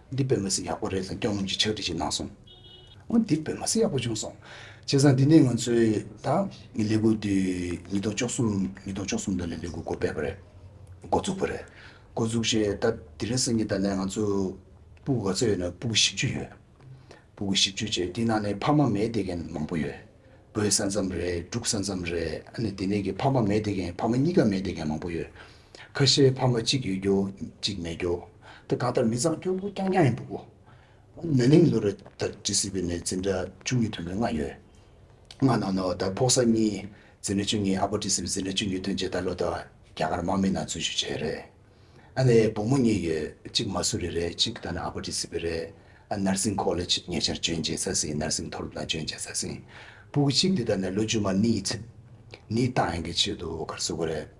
འདི་བོད་མི་སེ་ཡག་པོ་རེད་དང་སྐྱོང་ལམ་གྱི་ཕྱག་བྲིས་ཤིག་གནང་སོང། འོ་འདི་བོད་མ་སེ་ཡག་པོ་བྱུང་སོང། བྱས་ཙང་འདི་ནས་ང་ཚོས་ད་ངས་ལས་འགུལ་འདི་ཉིས་སྟོང་བཅོ་གསུམ་ཉིས་སྟོང་བཅོ་གསུམ་ལོ་ལས་ལས་འགུལ་འགོ་སྤེལ་བ་རེད། འགོ་བཙུགས་པ་རེད། འགོ་བཙུགས་ཞེས་ད་དེ་རིང་སང་ཉིན་ད་ལས་ང་ཚོ་སྤུ་ག་ཚོད་ཡོད་ན་སྤུ་གུ་བཞི་བཅུ་ཡོད། སྤུ་གུ་བཞི་བཅུ་བྱས་དེ་ནང་ནས་ཕ་མ་མེད་བསྡད་མཁན་མང་པོ་ཡོད། བུ་ས་མཚམས་རེད་འབྲུག་ས་མཚམས་རེད་ཨ་ནི་དེ་ནས་ཀྱི་ཕ་མ་མེད་བསྡད་མཁན་ཕ་མ་གཉིས་ཀ་མེད་བསྡད་མཁན་མང་པོ་ཡོད། ཁ་ཤས་ཕ་མ་གཅིག་ཡོད་རྒྱུ་གཅིག་མེད་རྒྱུ། དེ་གང་ལྟར་མི་ཚང་སྐྱོ་པོ་རྐྱང་རྐྱང་ཡིན་འདུག་གོ། ན་ནིང་ལོ་རེ་ད་ཇི་སྲིད་པའི་ནས་འཛིན་གྲྭ་བཅུ་གཉིས་ཐོན་མི་ལྔ་ཡོད། ལྔ་ནང་ནས་ད་ཕོག་ས་གཉིས་འཛིན་གྲྭ་བཅུ་གཉིས་ཨ་ཕ་ཇི་སྲིད་པའི་འཛིན་གྲྭ་བཅུ་གཉིས་ཐོན་རྗེས་ད་ལོ་ད་རྒྱ་གར་དམག་མི་ནང་འཛུལ་ཞུགས་བྱས་རེད། ཨ་ནེའི་བུ་མོ་གཉིས་ཡོད་གཅིག་མ་སུ་རི་རེད་གཅིག་ད་ནི་ཨ་ཕ་ཇི་སྲིད་པའི་རེད། ནར་སིང་ཁོ་ལེ་ཆིད་ཉེ་ཆར་འཇོན་རྗེས་ས་སིང་ནར་སིང་མཐོ་སློབ་ནང་འཇོན་རྗེས་ས་སིང་བུ་གཅིག་དེ་ད་ནི་ལོ་བཅུ་མ་གཉིས་ཚུད། ནི་ཏང་ཡོན་གྱི་ཆེད་དུ་གར་སོ་གོ་རེད།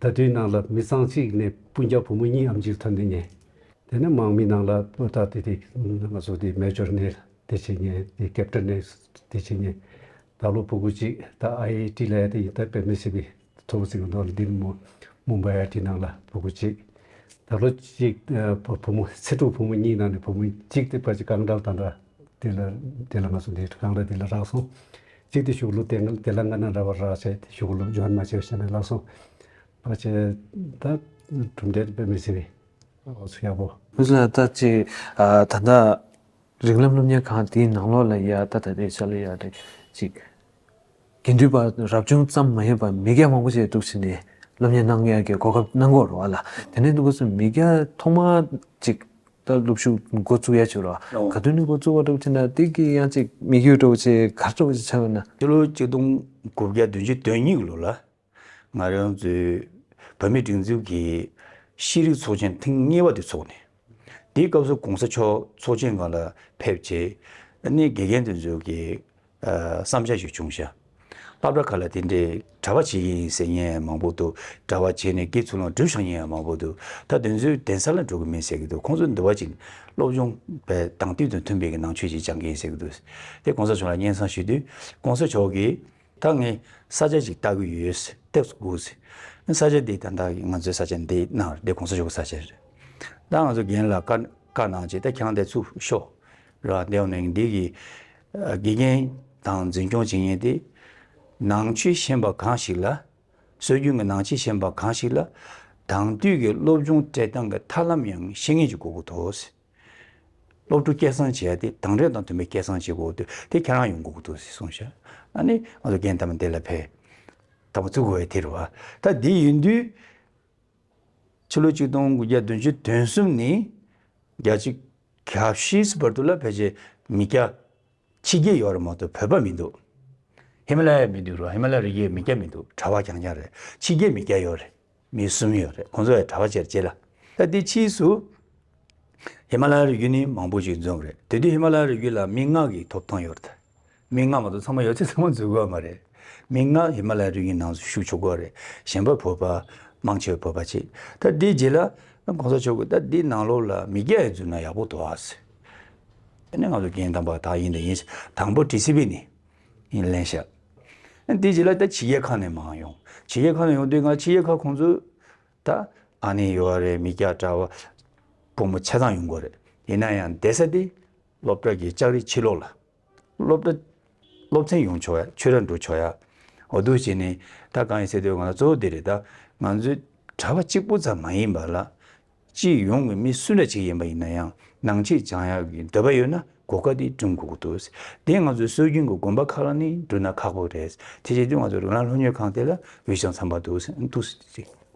ད་དུས་ནང་ལ་མི་ཚང་གཅིག་ནས་སྤུན་རྒྱག་བུ་མོ་གཉིས་ཨམ་ཅིར་ཐོན་དུ་ཉེ། དེ་ནས་མང་མི་ནང་ལ་སྤུན་རྟགས་དེ་དེ་ང་ཚོ་དེ་མལ་སྦྱོར་ནས་དེ་བྱེད་ཉེ་དེ་ཀེབ་ཀྲ་ནས་དེ་བྱེད་ཉེ། ད་ལོ་བུ་གུ་གཅིག་ད་ཨའི་ཨའི་ཏྲི་ལ་ཡ་དེ་ཡིན་ད་པད་མའི་སྲིད་པའི་ཐོ་བུ་ཚིག་ནོར་འདི་མོ་མུམ་བའི་ཨའི་ཏྲི་ནང་ལ་བུ་གུ་གཅིག། ད་ལོ་གཅིག་བུ་མོ་ཚེ་དྲུག་བུ་མོ་གཉིས་ནང་ནས་བུ་མོ་གཅིག་དེ་པ་ཅི་ཀང་ཀྲ་དང་ཀྲ་དེ་ལ་དེ་ལ་ང་ཚོ་དེ་ཀང་ཀྲ་དེ་ལ་རག་སོང། གཅིག་དེ་ཤུགས་ལུགས་དེ་འགལ་དེ་ལ་འགལ་ན་ར་བར་རག་བྱས་ཏེ་ཤུགས་ལུགས་སྦྱོར་མ་བྱས་བྱས་ན་ལགས་སོ། ཕར་ཆེར་ད་གྲུབ་འབྲས་དཔེ་མི་སྲིད་པས་འོ་ཚོད་ཡག་པོ། བུ་ལ་ལྟ་ཅི། ད་ལྟ། རིགས་ལམ་སློབ་གཉེར་ཁང་དེའི་ནང་ལོགས་ལ་ཡ་ད་ད་དེ་ཆ་ལ་ཡ་དེ་ཅིག། དགེ་འདུན་པ་རབ་བྱུང་ཙམ་མ་ཡིན་པར་མི་སྐྱ་མང་པོ་ཞིག་གཏུགས་བྱས་ནས་སློབ་གཉེར་གནང་ཡ་གི་གོ་སྐབས་གནང་གོ་རོ་བ་ལ་དེ་ནས་འདུག་གོ་སོང་མི་སྐྱ་ཐོག་མ་ཅིག་ལྟར་སློབ་ཞུགས་མགོ་བཙུགས་ཡ་ཆོད་རོགས། ག་དུས་ནས་མགོ་བཙུགས་བ་སྒྲོག་ཆེ་ན་དེ་གི་ཡང་ཅིག་མི་གུས་སྒྲོག་ཆེ་གར་སྒྲོག་ཅིག་ཆ་བས་ན། སྤྱི་ལོ་གཅིག་སྟོང་དགུ་བརྒྱ་བདུན་ཅུ་དོན་གཉིས་ལོ་ལ། ང་རང་ཚོའི་བོད་མི་སྒྲིག་འཛུགས་ཀྱི་ཤེས་རིག་ཚོགས་ཆེན་ཐེངས་གཉིས་པ་དེ་འཚོགས་ནས། དེའི་སྐབས་སུ་གོང་ས་མཆོག་ཚོགས་ཆེན་ང་ལ་ཕེབས་རྗེས། གནས་དགེ་རྒན་དུ་འཛུལ་གྱིས་བསམ་བྱ་ཡོད་བྱུང་ཤ་ལྷབ་འདྲ་ག་ལ་དེ་འདྲའི་གྲྭ་བ་བྱེད་ཀྱི་ཡིན་ཟེར་ངས་མང་པོ་འདུག་གྲྭ་བ་བྱས་ནས་ཀི་ཚུར་ལོངས་སྤྲུལ་ཤོག་ཉེས་ཡང་མང་པོ་འདུག་ད་དེ་ཚོའི་གདན་ས་ལ་འགྲོ་གི་མིན་ཟེར་གི་འདུག་ཁོང་ཚོ་འདི་བ་ཅིག་སློབ་སྦྱོང་པའི་དང་དུས་དང་མཐུན་པའི་ནང་ཆོས་ཅིག་སྦྱང་གི་ཡིན་ཟེར་གི་འདུག་དེ་གོང་ས་མཆོག་ལ་སྙན་གསང་ཞུས་དུས་གོང་ས་མཆོག་གིས། ད་ངས་ས་ཆ་ཅིག་ལྟ་གི་ཡོད་ཟེར་ལྟས་དགོས་ཟེར། ས་ཆ་འདི་ད་ལྟ་ང་ཚོའི་ས་ཆ་འདི་གནང་འདི་གོང་ས་མཆོག་གི་ས་ཆ་རེད། ད་ང་ཚོ་རྒན་ལ་བཀའ་གནང་ཅིག་ད་ཁྱང་འདི་ཚུགས་ཤོག་ར་འདི་ཡོང་ནས་འདི་གི་དགེ་རྒན་དང་འཛིན་སྐྱོང་བྱེད་ཉན་ཏེ། ནང་ཆོས་ཤེས་པ་གང་ཞིག་ལ། སྲོལ་རྒྱུན་གྱི་ནང་ཆོས་ཤེས་པ་གང་ཞིག་ལ། དྭངས་བསྡུས་ཀྱི་སློབ་སྦྱོང་སྤྲད་སྟངས་ཀྱི་ཐབས་ལམ་ཡང་ཤེས་ངེས་ཀྱི་དགོས་མཁོ་ཐོག། སློབ་ཕྲུག་སྐད་གསང་བྱས་ཏེ་དྭངས་རེག་དང་མཐུན་པའི་སྐད་གསང་བྱེད་དགོས་ཏེ་དེ་ཁྱེད་རང་ཡོང་དགོས་མཁོ་ཐུག་ཟེར་གསུངས་ཤག་ཨ་ནི་ང་ཚོ་རྒན་དམ་འདི་ལ་ཕེབས། དམ་བཙུགས་བས་དེར་བ་ད་འདི་ཡིན་དུས། ཕྱི་ལོ་ཆིག་སྟོང་དགུ་བརྒྱ་བདུན་ཅུ་དོན་གསུམ་ནི་རྒྱ་གཅིག་གྷ་བཤིས་སི་བར་དུ་ལ་བོད་ཆེ་མི་སྐྱ་ཕྱི་རྒྱལ་ཡོག་རེ་མ་ཏོ་བོད་པ་མི་འདུག་ཧི་མ་ལ་ཡ་མི་འདུག་རོ་ཧི་མ་ལ་རི་རྒྱལ་མི་སྐྱ་མི་འདུག་གྲ་བ་རྐྱང་རྐྱང་རེད་ཕྱི་རྒྱལ་མི་སྐྱ་ཡོག་རེ་མི་གསུམ་ཡོག་རེད་ཁོང་ཚོ་ཡ་གྲ་བ་ཆེར་བྱེད་ལ་ད་དེ་ཕྱིས་སུ་ཧི་མ་ལ་ཡ་རི་རྒྱུ་ནི་མང་པོ་ཞིག་འཛོམས་རེད་དེ་དུས་ཧི་མ་ལ་ཡ་རི་རྒྱུ་ལ་མི་ལྔ་གིས་ཐོབ་ཐང་ཡོག་རེད། མིག་སྔ་མ་དང་ཚང་མ་ཡོད་ཚད་ཚང་མ་འཛུལ་དགོས་མ་རེད། མིག་སྔ་ཧི་མ་ལའི་རི་ཡི་ནང་ཞུགས་ཆོག་གོ་རེད་གཞན་པ་བོད་པ་དམངས་ཆོས་བོད་པ་ཅིག་ད་འདི་རྗེས་ལ་གོང་ས་མཆོག་གིས་ད་འདི་ནང་ལོགས་ལ་མི་རྒྱ་ཡིས་འཛུལ་ན་ཡག་པོ་འདུག་ཨ་ཟེར། དེ་ནས་ང་ཚོ་རྒྱན་དམ་པ་དག་ཡིན་ད་ཡིན་ཟེར་དང་པོ་དྲི་ཟི་བས་ནི་ཡིན་ལན་ཞག་འདི་རྗེས་ལ་ད་ཕྱི་རྒྱལ་ཁག་ནས་མང་ཡོང་ཕྱི་རྒྱལ་ཁག་ནས་ཡོང་དུས་ང་ཕྱི་རྒྱལ་ཁག་ཁོང་ཚོས་ད་ཨ་ནི་ཡོད་རེད་མི་རྒྱ་གྲྭ་བ་ཕོ་མོ་ཆ་ཚང་ཡོང་གོ་རེད་ཡིན་ན་ཡང་འདས་ས་འདི་སློབ་གྲྭ་གི་ལྕགས་རི་ཕྱི་ལོགས་ལ། སློབ་གྲྭ། སློབ་ཚན་ཡོང་ཆོག་ཡ། ཆོས་ར་འགྲོ་ཆོག་ཡ། འོ་དོ་བྱས་ནས། ད་གང་ཡིན་ཟེར་དུས་ང་ལ་གཙོ་བོ་འདི་རེད་ད། ང་ཚོའི་གྲྭ་པ་གཅིག་པུ་ཙམ་མ་ཡིན་པ་ལ། སྤྱི་ཡོངས་ཀྱི་མི་སུ་འདྲ་ཞིག་ཡིན་པ་ཡིན་ན་ཡང་ནང་ཆེད་བྱང་ཡག་གི་འདོད་པ་ཡོད་ན་གོ་སྐབས་འདི་བསྐྲུན་དགོས་ཀྱི་འདུག་དེ་ང་ཚོའི་སྲོལ་རྒྱུན་གྱི་དགོན་པ་ཁག་ལ་ནི་བསྐྲུན་ན་ཁག་པོ་རེད། དེ་བྱས་དུས་ང་ཚོ་རོ་ལངས་ལྷོ་སྨྱོན་ཁང་དེ་ལ་འོས་ཤིང་འཚམ་པ་འདུག།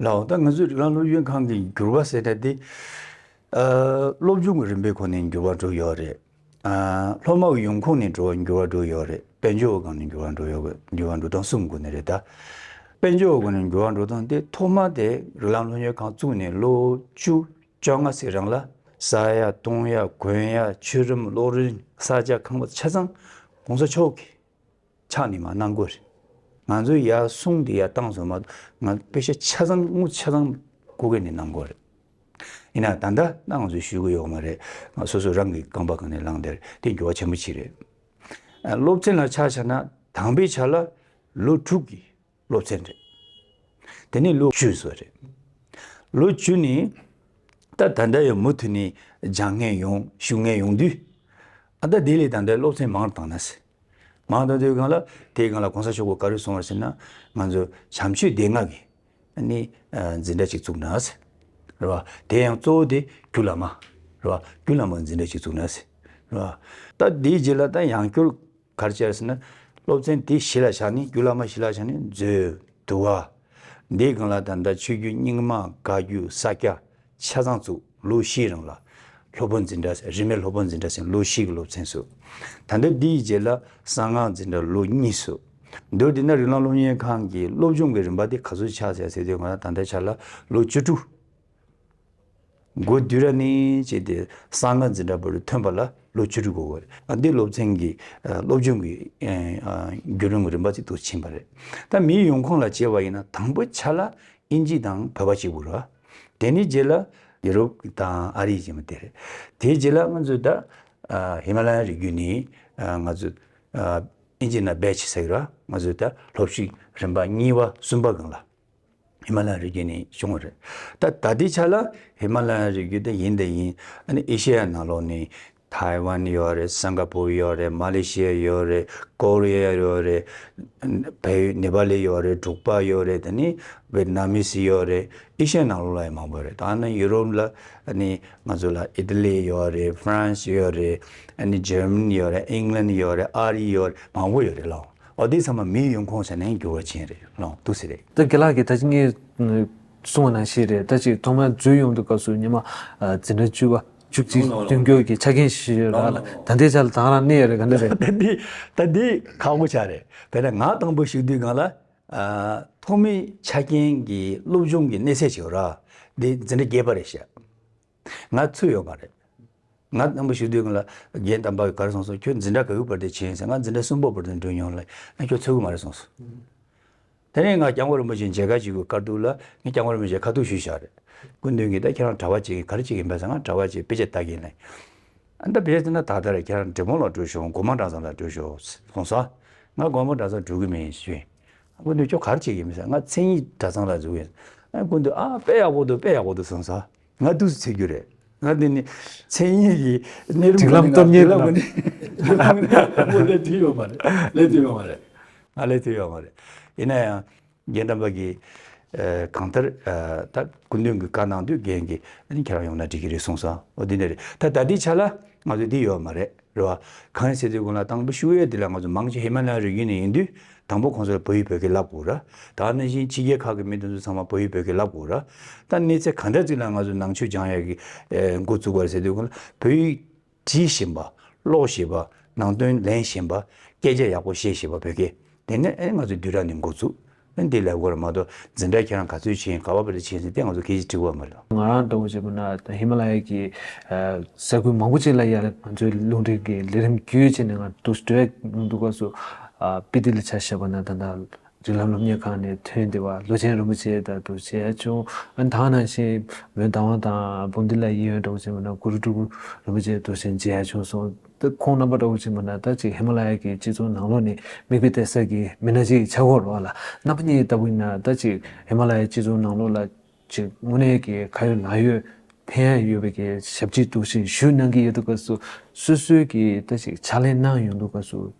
ལགས། ད་ང་ཚོས་ཀླ་ཀློ་གཡོན་གང་གི་འགྱུར་བ་ཟེར་ན་དེ། སློབ་སྦྱོང་གི་རིམ་པའི་ཁོངས་ནས་འགྱུར་བ་འགྲོ་ཡོད་རེད། སློབ་མ་གི་ཡོང་ཁུངས་ནས་འགྲོ་འགྱུར་བ་འགྲོ་ཡོད་རེད། དཔལ་འབྱོར་བ་གང་ནས་འགྱུར་བ་འགྲོ་ཡོད་འགྱུར་བ་འགྲོ་སྟངས་གསུམ་གོ་ནི་རེད་ད། དཔལ་འབྱོར་བ་གང་ནས་འགྱུར་བ་འགྲོ་སྟངས་དེ་ཐོག་མ་དེ་ཀླ་ཀློ་གཡོན་གང་བཙུགས་ནས་ལོ་བཅུ་བཅོ་ལྔ་ཟིག་རང་ལ་ས་ཡ་སྟོང་ཡ་གོན་ཡ་ཆུ་རིམ་གློག་རིན་ས་ཆ་ཁང་པ་ཆ་ཚང་གོང་ས་མཆོག་གི་ཕྱག་ནི་མ་གནང་དགོས་རེད། ང་ཚོའི་ཡར་གསུངས་དེ་ཡར་བཏང་བཟོ་མ་ང་དཔེ་ཆ་ཆ་ཚང་དངུལ་ཆ་ཚང་གོ་གི་ནས་གནང་དགོས་རེད། ཡིན་ན་ད་ལྟ་ད་ང་ཚོས་ཞུས་གི་ཡོད་མ་རེད་ང་སོ་སོ་རང་གི་རྐང་པ་གང་ནས་བླངས་དེར་དེ་འགྱུར་བ་ཆེན་པོ་གྱི་རེད། སློབ་ཚན་ལ་ཆ་བྱ་ན་དང་པའི་ཆ་ལ་ལོ་དྲུག་གི། སློབ་ཚན་རེད། དེ་ནི་ལོ་བཅུ་སོགས་རེད། ལོ་བཅུ་ནི་ད་ད་ལྟ་ཡང་མུ་མཐུད་ནས་སྦྱང་མཁན་ཡོང་ཞུ་མཁན་ཡོང་དུས། ད་ལྟ་དེ་ལས་ད་ལྟ་སློབ་ཚན་མང་བཏང་ན་ཟེར། མང་བཏང་དུས་གང་ལ་དེས་གང་ལ་གོང་ས་མཆོག་གི་བཀའ་རོལ་སོང་བར་ཟེར་ན། ང་ཚོ་བྱམས་ཆོས་སྡེ་ལྔ་གིས་ནི་འཛིན་གྲྭ་གཅིག་བཙུགས་ན་ཟེར། རེད་བ། དེ་ཡང་གཙོ་བོ་དེ་རྒྱུ་ལ་མ། རེད་བ། རྒྱུ་ལ་མ་འཛིན་གྲྭ་གཅིག་བཙུགས་ན་ཟེར། རེད་བ། ད་དེའི་རྗེས་ལ་ད་ཡང་སྐྱོར། གར་བྱས་ཟེར་ན། སློབ་ཚན་དེ་གཞི་ལ་བཞག་ནས་རྒྱུད་བླ་མ་གཞི་ལ་བཞག་ནས་མཛོད། དུ་བ། འདིའི་སྒང་ལ་ད་ལྟ་ཆོས་བརྒྱུད་རྙིང་མ་དགའ་བརྒྱུད་ས་སྐྱ་ཆ་ཚང་བཙུགས་ལོ་བཞིའི་རིང་ལ། ལྷོ་པོ་འཛིན་གྲྭ་རིས་མེད་ལྷོ་པོ་འཛིན་གྲྭ་ཟེར་ལོ་བཞི་གི་སློབ་ཚན་བསུ། ད་ལྟ་འདིའི་རྗེས་ལ་གསང་སྔགས་འཛིན་གྲྭ་ལོ་གཉིས་བསུ། མདོར་དེད་ན་རིག་ལམ་སློབ་གཉེར་ཁང་གི་སློབ་སྦྱོང་གི་རིམ་པ་དེ་ག་ཚོད་ཆགས་ཟེར་ཚེ་དེའི་སྒང་ལ་ད་ལྟ་ཆགས་ལ་ལོ་བཅུ་དྲུག། སྒོས་བསྡུས་ར་མིན་བྱས་ཏེ་གསང་སྔགས་འཛིན་གྲྭ་བར་ཐོན་པ་ལ་ལོ་བཅུ་དྲུག་འགོར་བ་རེད། འདི་སློབ་ཚན་གྱི་སློབ་སྦྱོང་གི་རྒྱུད་རིམ་རིམ་པ་ཅིག་ཏུ་ཕྱིན་པ་རེད། ད་མིའི་ཡོང་ཁུངས་ལ་བྱེད་པ་ཡིན་ན་དང་པོ་ཆ་ལ་ཨིན་ཇི་དང་བོད་པ་ཞིག་དགོས་རེད། དེ་ནི་རྗེས་ལ་ཡུ་རོབ་དང་ཨ་རི་ཞེས་པ་དེ་རེད། དེའི་རྗེས་ལ་ང་ཚོས་ད་ཧི་མ་ལ་ཡའི་རི་རྒྱུད་ནས་ང་ཚོས་ཨིན་ཇི་ན་བེད་ཆེ་ཟེར་གི་ར་ང་ཚོས་ད་སློབ་ཞུགས་རིམ་པ་གཉིས་པ་གསུམ་པ་གང་ལ། ཧི་མ་ལ་ཡའི་རི་རྒྱུད་ནས་བྱུང་བ་རེད། ད་ལྟ་དེའི་ཆ་ལ་ཧི་མ་ལ་ཡའི་རི་རྒྱུད་དེ་ཡིན་དེ་ཡིན། ཨེ་ཤེ་ཡ་ནང་ལོགས་ནས་ཐའེ་ཝན་ཡོད་རེད་སེང་ག་པུར་ཡོད་རེད་མ་ལེ་ཤི་ཡ་ཡོད་རེད་ཀོ་རི་ཡ་ཡོད་རེད། བལ་ཡུལ་ནེ་པ་ལི་ཡོད་རེད་འབྲུག་པ་ཡོད་རེད་དེ་ནི་བེ་ཏི་ན་མི་སི་ཡོད་རེད་ཨེ་ཤེ་ཡ་ནང་ལོགས་ལ་ཡང་མང་པོ་རེད། ད་ནི་ཡུ་རོབ་ལ་ནི་ང་ཚོ་ལ་ཨི་ཏི་ལི་ཡོད་རེད་ཧྥི་རན་སི་ཡོད་རེད། ཨ་ནི་ཇར་མ་ནི་ཡོད་རེད་ཨིང་ལན་ཡོད་རེད་ཨ་རི་ཡོད་རེད་མང་པོ་ཡོད་རེད་ལགས། འོ་དེ་ཚང་མ་མིའི་ཡོང་ཁུངས་བྱ་ནས་འགྱུར་བ་ཆེན་རེད་ལོང་འདུག་ཟེར་རེད། ད་དགེ་ལགས་ཀྱིས་ད་ཅི་ངས་གསུང་བ་ན་ཞིག་རེད་ད་ཅིག་ཐོག་མར་འཛུལ་ཡོང་དུས་སྐབས་སུ་ཉི་མ་འཛིན་གྲྭ་བཅུ་བ་བཅུ་གཅིག་མདུན་སྐྱོད་ཀྱི་ཆ་རྐྱེན་ཞིག་ཞིག་རག་ལ་ད་ལྟའི་ཆ་ལ་དྭངས་རང་གནས་ཡོད་རེད་ག་འདྲ་རེད། ད་འདི་ད་འདི་ཁག་པོ་ཆགས་རེད་དེ་ལ་ང་དང་པོ་ཞུགས་དུས་གང་ལ་ཐོག་མའི་ཆ་རྐྱེན་གྱི་སློབ་སྦྱོང་གི་གནས་ཚད་ཞིག་རག་འདི་འཛིན་གྲྭ་བརྒྱད་པ་རེད་བཤད། ང་ཚུད་ཡོད་མ་རེད། ང་སྣམ་བུ་ཞིག་སྡོད་མཁན་ལ་རྒན་དམ་པ་གར་སོང་སོང་ཁྱོད་འཛིན་གྲྭ་ག་དགུ་བར་དེ་བྱིན་ཟེར་ང་འཛིན་གྲྭ་གསུམ་པོ་བར་དེ་འགྲོ་མྱོང་ལ་ཡང་ཁྱོད་ཚུད་གི་མ་རེད་གསུངས་སོང། དེ་ནས་ང་སྐྱབས་མགོན་རིན་པོ་ཆེའི་མཇལ་ཁ་བྱེད་དགོས་གར་འདུག་ལ་ངས་སྐྱབས་མགོན་རིན་པོ་ཆེ་ཁ་ཐུག་ཞུས་བཞག་རེད་སྐུ་མདུན་གྱིས་ད་ཁྱེད་རང་གྲྭ་བ་བྱེད་ཀྱིན་གར་བྱེད་ཀྱིན་བས་ཟེར་ང་གྲྭ་བ་བྱེད་དཔེ་ཆ་བལྟ་གིན་ལ། ཨ་མདའ་བས་ཟེར་ན་ད་ལྟ་ར་ཁྱེད་རང་འབྲི་མོང་ལ་བྲོས་ཤོག་སྒོ་མང་གྲྭ་ཚང་ལ་བྲོས་ཤོག་གསུངས་སོང། ང་སྒོ་མང་གྲྭ་ཚང་འགྲོ་གི་མིན་ཞུས། སྐུ་མདུན་ཁྱོད་གར་བྱེད་ཀྱིན་མི་ཟེར་ང་མཚན་ཉིད་གྲྭ་ཚང་ལ་འཛུལ་ཡོད། སྐུ་མདུན་ཨ་དཔེ་ཡག་པོ་འདུག་དཔེ་ཡག་པོ་འདུག་གསུངས་སོང། ང་སྡུག་ཚུལ་འཚོལ་རྒྱུ་རེད། ང་འདི་ནི་མཚན་ཉིད་ཀྱི་གནས་རིམ་ཁག་ནས་ང་སྡུག་ལབ་མཁན་རེད། སྡུག་ལབ་མཁན་ནི་དང་པོ་ལས་དུས་ཡོལ་བ་རེད། ལས་དུས་ཡོལ་བ་རེད། ང་ལས་དུས་ཡོལ་བ་རེད། ཡིན་ན་ཡང་རྒན་དམ་པ་གིས་གང་ལྟར་ད་སྐུ་མདུན་གྱི་བཀའ་གནང་དུས་རྒན་གྱིས་ཁྱེད་རང་ཡོང་ན་འགྲིག་གི་རེད་གསུངས་སོང། འོ་འདི་འདྲ་རེད། ད་ལྟ་འདི་ཆ་ལ་ང་ཚོ་འདི་ཡོལ་བ་མ་རེད། རེད་བ། གང་ཡིན་ཟེར་དུས་ཁོང་ལ་དང་པོ་ཤུ་ཡོད་དེ་ལ་ང་ཚོ་མང་ཆེ་ཧི་མ་ལའི་རི་རྒྱུད་ནས་ཡིན་དུས་དང་པོ་ཁོང་ཚོར་བོད་ཡིག་བོད་སྐད་བསླབ་དགོས་ར། ད་ནི་བཞིན་ཕྱི་རྒྱལ་ཁག་གི་མི་འདི་ཚོ་ཚང་མ་བོད་ཡིག་བོད་སྐད་བསླབ་དགོས་ར། ད་གནས་ཚད་ག་འདྲ་ཙིག་ལ་ང་ཚོ་ནང་ཆོས་སྦྱང་ཡག་གི་འགོ་བཙུགས་པ་རེད་ཟེར་དུས་ཁོང་ལ་བོད་ཡིག་བྲིས་བཞིན་པ། ཀློག་བཞིན་པ། ནང་དོན་ལེན་བཞིན་པ། སྐད་ཆ་ཡག་པོ་བཤད་བཞིན་པ་བོད་སྐད་དེ་ནས་ཨེ་ང་ཚོ་བསྡུས་ར་ནས་འགོ་བཙུགས། ཨ་འདི་ལས་གོ་ར་མ་གཏོགས་འཛིན་གྲྭ་ཁྱེད་རང་ག་ཚོད་བྱེད་ག་བ་བ་རེ་བྱེད་ཟིན་ཏེ་ང་ཚོ་ཁྱེད་ཀྱིས་དྲི་བ་མ་རེད། ང་རང་ལྟ་བུ་བྱེད་པོ་ན་ཧི་མ་ལ་ཡ་གྱི་ས་ཁུལ་མང་པོ་ཅིག་ལ་ཡ་ལ་ང་ཚོའི་རླུང་འཕྲིན་གྱི་ལས་རིམ་བརྒྱུད་ཅེས་ནས་ང་དུ་སྤྲོད་མྱོང་འདུག་སྐབས་སུ་པི་ཏི་ལ་བྱ་ཞེས་པ་ན་ད་ལྟ་རིགས་ལམ་སློབ་གཉེར་ཁང་ནས་ཐོན་ཏེ་བ་ལོ་ཆེན་རིན་པོ་ཆེ་དང་དུ་བྱས་བྱུང་ཨ་ནི་ད་ནང་བཞིན་བོད་མདའ་དབང་དང་བུ་འདི་ལ་ཡིད་ཡོན་ལྟ་བུ་བྱེད་པོ་ན་གུ་རུ་སྤྲུལ་སྐུ་རིན་པོ་ཆེ་དུ་བྱས་མཇལ་ཡ་བྱུང་སོང། ད་ཁོང་རྣམ་པ་འདྲ་བོ་ཅིག་མ་ནག་ད་ཅིག་ཧི་མ་ལ་ཡ་གི་སྤྱི་ཚོགས་ནང་ལོགས་ནས་མིག་དཔེ་སྟེར་ས་གི་མི་སྣ་ཅིག་ཆགས་ཁོ་རོགས་ལ་རྣམ་པ་གཉིས་ལྟ་བུ་ཡིན་ན་ད་ཅིག་ཧི་མ་ལ་ཡའི་སྤྱི་ཚོགས་ནང་ལོགས་ལ་ཅིག་དངོས་གནས་གི་ཁ་ཡོད་ལག་ཡོད་ཕན་ཡ་ཡོད་པའི་གི་ཞབས་ཕྱི་གཏུགས་ཤིང་ཞུས་གནང་གི་ཡོད་འདུག་ག་སུ་སོ་སོའི་གི་ད་ཅིག་ཕྱག་ལེན་གནང་ཡོང་འདུག་ག་སུ་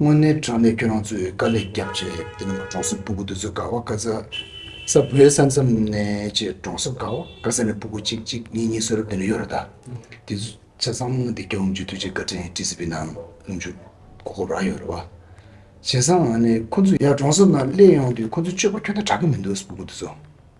དངོས་གནས་དྲང་གནས་ཁྱོད་རང་ཚོས་དཀའ་ལས་རྒྱབ་ཅེས་དེ་ནས་གྲོང་གསེབ་སྤུ་གུ་དེ་ཚོས་དགའ་བ་དགའ་ས་ས་བོད་ས་མཚམས་ནས་ཅེས་གྲོང་གསེབ་དགའ་བ་དགའ་ས་ནས་སྤུ་གུ་གཅིག་གཅིག་གཉིས་གཉིས་གསོལ་ར་འདི་ནས་གཡོ་ར་ད་དེ་ཚོས་ཆ་ཚང་མ་འདི་སྐྱོ་བོ་འཇུ་དུས་ཀྱི་བཀའ་དྲིན་བཀྲིས་སི་པི་ནང་ལྷུང་འཇུག་གོ་ཁོ་རང་ཡོད་རེད་བ། བྱས་ཙང་ང་ནི་ཁོ་ཚོ་ཡར་གྲོང་གསེབ་ནང་སླེབས་ཡོང་དུས་ཁོ་ཚོས་སྤྱོད་པ་ཁྱོད་ལྟར་དྲག་གི་མི་འདུག་སྤུ་གུ་དེ་ཚོ།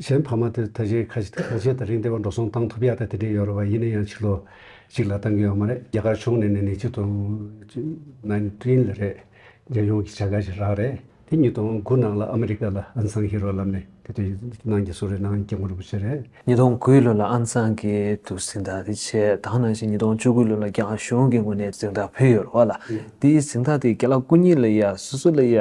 གཞན་ཕ་མ་དེར་ད་གཞན་ཁ་ཆེ་གང་ཆེ་དང་རིང་བསྡད་པ་འགྲོ་སོང་བཏང་ཐུབ་ཡག་དང་དེ་འདྲས་ཡོད་རེད་བ་ཡིན་ན་ཡང་ཕྱི་ལོ་གཅིག་ལ་བཏང་གི་ཡོད་མ་རེད་རྒྱ་གར་ཕྱོགས་ནས་ནས་ནས་གཅིག་དང Nineteen ལ་རེད་རྒྱལ་ཡོངས་ཀྱི་བྱ་དགའ་ཞིག་རག་རེད་དེ་གཉིས་དང་དགུ་ནང་ལ་ཨ་མི་རི་ཀ་ལ Aung San Hee Road ལབ་ནས་དེ་དུས་ནང་གི་སུ་རེད་ནང་སྐྱབས་མགོན་རིན་པོ་ཆེ་རེད། ཉིས་སྟོང་དགུའི་ལོ་ལ Aung San གྱིས་དུ་གཟིགས་འདག་དེ་ཆེད་དང་ནང་བཞིན་ཉིས་སྟོང་བཅུ་དགུའི་ལོ་ལ་རྒྱ་གར་གཞུང་གི་ངོས་ནས་གཟིགས་འདག་ཕུལ་ཡོད་རེད་བ་ལ་དེའི་གཟིགས་འདག་དེ་རྒྱ་ལ་སྐུ་ཉིད་ལ་ཡ་སོ་སོ་ལ་ཡ་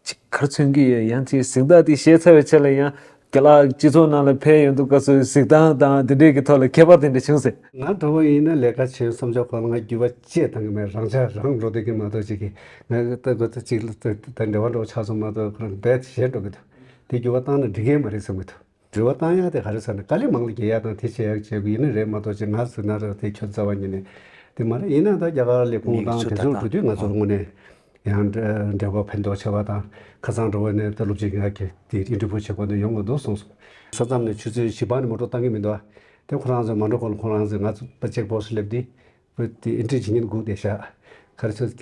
ཅི་གར་མཚོན་གྱི་ཡོད་ཡང་ཅིའི་གཟིགས་སྟངས་དེ་ཤེས་ཚར་བའི་ཆ་ལ་ཡང་དགེ་ལགས་སྤྱི་ཚོགས་ནང་ལ་ཕེབས་ཡོང་དུས་སྐབས་སུ་གཟིགས་སྟངས་དང་དེ་འབྲེལ་གྱི་ཐོག་ལ་ཁྱད་པར་དེ་འདྲ་བྱུང་ཟེར། ང་གྲོགས་པོ་ཡིན་ན་ལས་ཀ་བྱེད་བསམ་ཆོག་ཁོ་ལ་ང་རྒྱུས་པ་བཅས་བཏང་གི་མེད་རང་ཆ་རང་འགྲོ་སྡོད་ཀྱི་མ་གཏོགས་ཅི་གི་ང་གི་ལྟ་གོ་ཚད་ཅིག་ལ་དེ་འདྲ་བ་འགྲོ་ཆགས་སོང་མ་གཏོགས་ཁོ་རང་རྦད་དེ་གཞན་འགྲོ་གི་འདུག་དེ་རྒྱུས་པ་བཏང་ན་འགྲིག་གི་མ་རེད་བསམ་གི་འདུག། འབྲེལ་བ་བཏང་ཡག་དེ་ག་རེ་ཟེར་ན་ག་ལེ་མང་ལ་རྒྱལ་ཡག་དང་དེ་བྱེད་ཡག་བྱེད་དགོས་ཡིན་ན་རེད་མ་གཏོགས་ཆེད་མངགས་ཟིག་ན་རག་དེ་ཁྱོད་རྩ་བ་ཉིད་ནས་དེ་མ་རེད་ཡིན་ན་ད་རྒྱ་གར་ལས་ཁུངས་དང་དེ་ཚོར་འགྲོ་དུས་ང་ཚོར་དངོས་ནས་ཡང་འབྲེལ་བ་ཕན་ཐོག་ཆེ་བ་དང་ཁ་ཚང་འགྲོ་བ་ནས་ད་སློབ་སྤྱི་ངག་གི་དེ་རིགས་འབྲེལ་བུ་ཆེ་བ་ནས་ཡོང་དགོས་འདུག་གསུངས་སོང། ས་མཚམས་ནས་ཆུ་ཚོད་བཞི་པ་ནས་མ་འགྲོ་བཏང་གི་མི་འདུག་དེ་ཁོ་རང་ཚོས་མ་འགྲོ་གོང་ལ་ཁོང་རང་ཚོས་ང་ཚོ་ད་ཅེག་བོགས་སུ་སླེབས་དུས་བུ་དེ་ཨེ་འགྲིག་ཇི་སྙེད་སྒུག་བསྡད་བཞག། ག་རེ་ཚོད་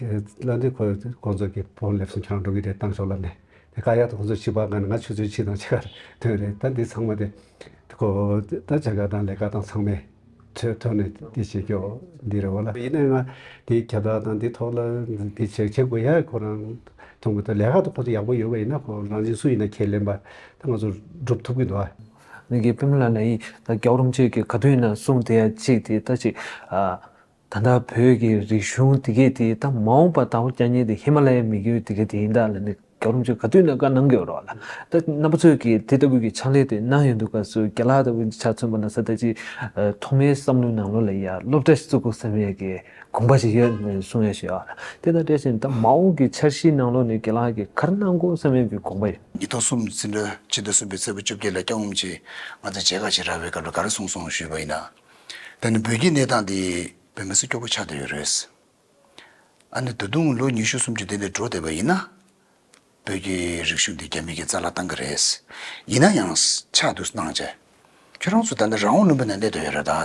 བླ་འདྲེ་ཁོ་ཀོང་ཚོ་གི་བོང་ལེབ་སུ་འཁྱང་འགྲོ་གི་རེད་བཏང་ཆོག་ལབ་ནས་དེ་ཀ་ཡག་ཏུ་ཁོ་ཚོ་ཕྱི་པ་ག་ནས་ང་ཆུ་ཚོད་ཕྱི་དང་ཕྱི་གར་དོན་རེད་ད་འདི་ཚང་མ་དེ་ཁོ་ད་ཆ་ག་དང་ལས་ཀ་དང་ཚང་མས་ཚོད་ཐོན་ནས་དེ་བྱེད་ཀྱོ་འདི་རེད་བ་ལ་ཡིན་ན་ང་དེ་ཁྱབ་བསྒྲགས་དང་དེ་ཐོག་ལ་དེ་བྱེད་བྱེད་དགོས་ཡག་ཁོ་རང་མཐོང་གི་འདུག་ལས་ཀ་དང་ཁོ་ཚོ་ཡག་པོ་ཡོད་པ་ཡིན་ན་ཁོ་རང་བཞིན་སུ་ཡིན་ན་ཁས་ལེན་པ་ད་ང་ཚོ་སྒྲུབ་ཐུབ་ཀྱི་འདུག་ཨ། ནུས་ཀྱི་བུ་མོ་ལ་ལ་ཡིས་ད་སྐྱོག་རུམ་བཅས་ཀྱི་ག་དུས་ན་གསུང་དེ་ཡང་གཅིག་དེ་ལྟ་ཅིག། ད་ལྟ་བོད་ཀྱི་རིག་གཞུང་དེ་གས་དེ་ད་མ་འོངས་པ་ད་ཧོ་རྐྱ་ཉེ་དེ་ཧི་མ་ལ་ཡའི་མི་རྒྱུད་དེ་གས་དེ་ཡིན་ད་ལ་ནི་སྐྱོག་རུམ་བཅས་ག་དུས་ན་བཀའ་གནང་གི་རོགས་ལ་ད་རྣམ་པ་ཚོས་ཀྱི་དེ་ལྟ་བུ་ཀྱི་ཕྱག་ལས་དེ་གནང་ཡོད་འདུག་ག་སུ་རྐྱ་ལ་ད་བུ་ཆ་མཚོན་པ་ན་ས་ད་ཅིག་ཐོག་མའི་བསམ་བློའི་ནང་ལོ་ལ་ཡ་སློབ་གྲྭ་ཞིག་བཙུགས་དགོས་བསམ་ཡས་ཀྱི་དགོངས་པ་ཞིག་ཡོད་ནས་གསུང་ཡས་ཞུ་ཡས་ལ་དེ་ད་བཀྲལ་ཞིང་ད་མ་འོངས་ཀྱི་འཆར་གཞིའི་ནང་ལོ་ནི་རྐྱ་ལ་ཀྱི་གར་གནང་དགོས་བསམ་ཡས་ཀྱི་དགོངས་པ་ཡོད། ཉིས་སྟོང་གསུམ་ཟིན་འགྲོ་ཕྱི་ཟླ་གསུམ་པའི་ཚེས་པ་བཅོ་བརྒྱད་ལ་སྐྱག་ངོམ་གྱིས་ང་ཚོ་མཇལ་ཁ་བྱེད་རག་པའི་སྐབས་ལ་ག་རེ་གསུངས་སོང་ཞུས་པ་ཡིན་ན། ད་ནི་བོད་ཀྱི་གནས་སྟངས་འདི་བོད་མི་སུ་སྐྱོ་པོ་ཆགས་བསྡད་ཡོད་རེད། ཨ་ནི་ད་དུང་ལོ་ཉི་ཤུ་སུམ་ཅུ་འདས་ནས་འགྲོ་བསྡད་པ་ཡིན་ན། བོད་ཀྱི་རིག་གཞུང་འདི་རྒྱ་མི་གི་རྩ་ལ་བཏང་གི་རེད། ཡིན་ན་ཡང་ཕྱག་བསྡུར་གནང་བྱས། ཁྱོད་རང་ཚོ་ད་ནི་རང་དབང་ལུང་པའི་ནང་གནས་དོན་ཡོད་རེད་ད།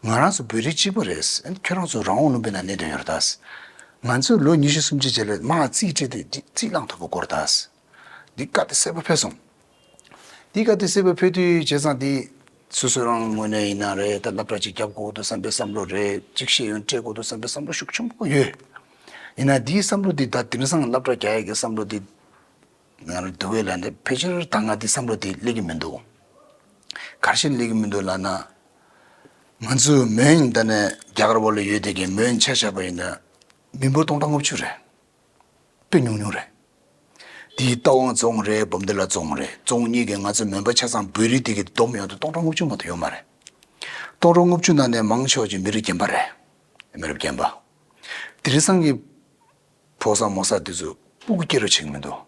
ང་རང་ཚོ་བོད་རིགས་གཅིག་པུ་རེད། ཁྱོད་རང་ཚོ་རང་དབང་ལུང་པའི་ནང་གནས་དོན་ཡོད་རེད་ད། ང་ཚོས་ལོ་ཉི་ཤུ་སུམ་ཅུ་རྗེས་ལོའི་མ་རྩིས་སྤྲད་དུས་འདི་རྩིས་བླངས་ཐུབ་པ་སྐོར་ད། འདི་བཀའ་བསྟུད་གསལ་པོ་ཕེབས་སོང། འདི་བཀའ་བསྟུད་གསལ་པོ་ཕེབས་དུས་བྱས་ཙང་འདི། སོ་སོ་རང་དངོས་གནས་ཡིན་ན་རེད་ད་སླ་བྲག་ཅིག་བརྒྱབ་དགོས་འདུག་བསམ་པའི་བསམ་བློ་རེད་གཅིག་ཤེས་ཡོན་སྤྲད་དགོས་འདུག་བསམ་པའི་བསམ་བློ་ཤུགས་ཆུང་པོ་ཡོད། ཡིན་ན་འདིའི་བསམ་བློ་འདི་ད་དིང་སང་སླ་བྲག་རྒྱ་ཡིག་གི་བསམ་བློ་འདི། ཡང་རེ་འདུག་གས་ལ་ནི་ཕལ་ཆེར་ད་སྔ་དེ་བསམ་བློ་དེ་སླེབས་ཀྱི་མི་འདུག། ག་ཤེད་སླེབས་ཀྱི་མི་འདུག་ལགས་ན། ང་ཚོས་མོན་ད་ནི་རྒྱ་གར་བ་ལ་ཡོད་དེ་གས་མོན་ཆ་བཞག་པ་ཡིན་ན། མི་འབོར་སྟོང་ཕྲག་ལྔ་བཅུ་རེད། དཔེ་ཉུང་ཉུང་རེད། དེའི་རྟ་དབང་རྫོང་རེད་འབུམ་ཏི་ལ་རྫོང་རེད་རྫོང་གཉིས་གས་ང་ཚོ་མོན་པ་ཆ་ཚང་བོད་རིགས་དེ་གས་བསྡོམས་ཡོང་དུ་སྟོང་ཕྲག་ལྔ་བཅུ་མ་ཏོག་ཡོད་མ་རེད། སྟོང་ཕྲག་ལྔ་བཅུ་ནང་ནས་མང་ཕྱོགས་ཀྱི་མི་རིགས་རྒན་པ་རེད། མི་རབས་རྒན་པ། དེ་རེ་ཚང་གིས། ཕོ་བསགས་མོ་བསགས་དེ་ཚོ་སྤུ་གུ་སྐྱེ་རུ་བྱེད་ཀྱི་མི་འདུག།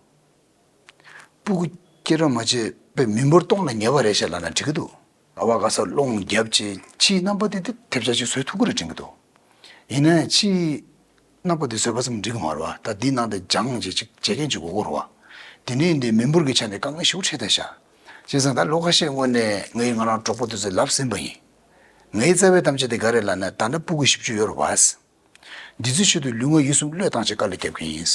སྤུ་གུ་སྐྱེ་རུ་མ་བྱེད་པའི་མི་འབོར་སྟོང་ལ་ཉེ་བ་རེད་བཤད་ལབ་ན་འགྲིག་གི་འདུག། ཨ་བ་ག་ས་སློང་རྒྱབ་ཅེས་ཕྱིའི་རྣམ་པ་དེ་དེ་ཐེབས་ཆག་ཅིག་བཟོས་ཐུབ་ཀི་རུ་དྲན་གྱི་འདུག་ཡིན་ན་ཡང་ཕྱིའི་རྣམ་པ་དེ་བཟོས་པ་ཙམ་འགྲིག་གི་མ་རུ་བ་ད་འདི་ནང་དེ་སྦྱང་བྱེད་ཅིག་བྱེད་མཁན་ཅིག་དགོས་གི་རུ་བ། དེ་ནས་འདི་མི་འབོར་གྱི་ཆ་ནས་དཀའ་ངལ་ཞུགས་ཁྲེ་ད་ཤ། བྱས་ཙང་ད་ལོ་ཁ་ཤས་སྔོན་ནས་ངའི་ང་རང་གྲོགས་པོ་དེ་ཚོས་ལབ་ཟིན་པ་ཡིན། ངའི་རྩ་བའི་གཏམ་བྱ་དེ་ག་རེ་ལ་ན་ད་ནི་སྤུ་གུ་བཞི་བཅུ་ཡོད་རུ་བ། འདི་ཚོའི་ཆེད་དུ་ལུས་ངག་ཡིད་གསུམ་བློས་བཏང་བྱེད་དཀའ་ལས་རྒྱབ་མཁན་ཡིན།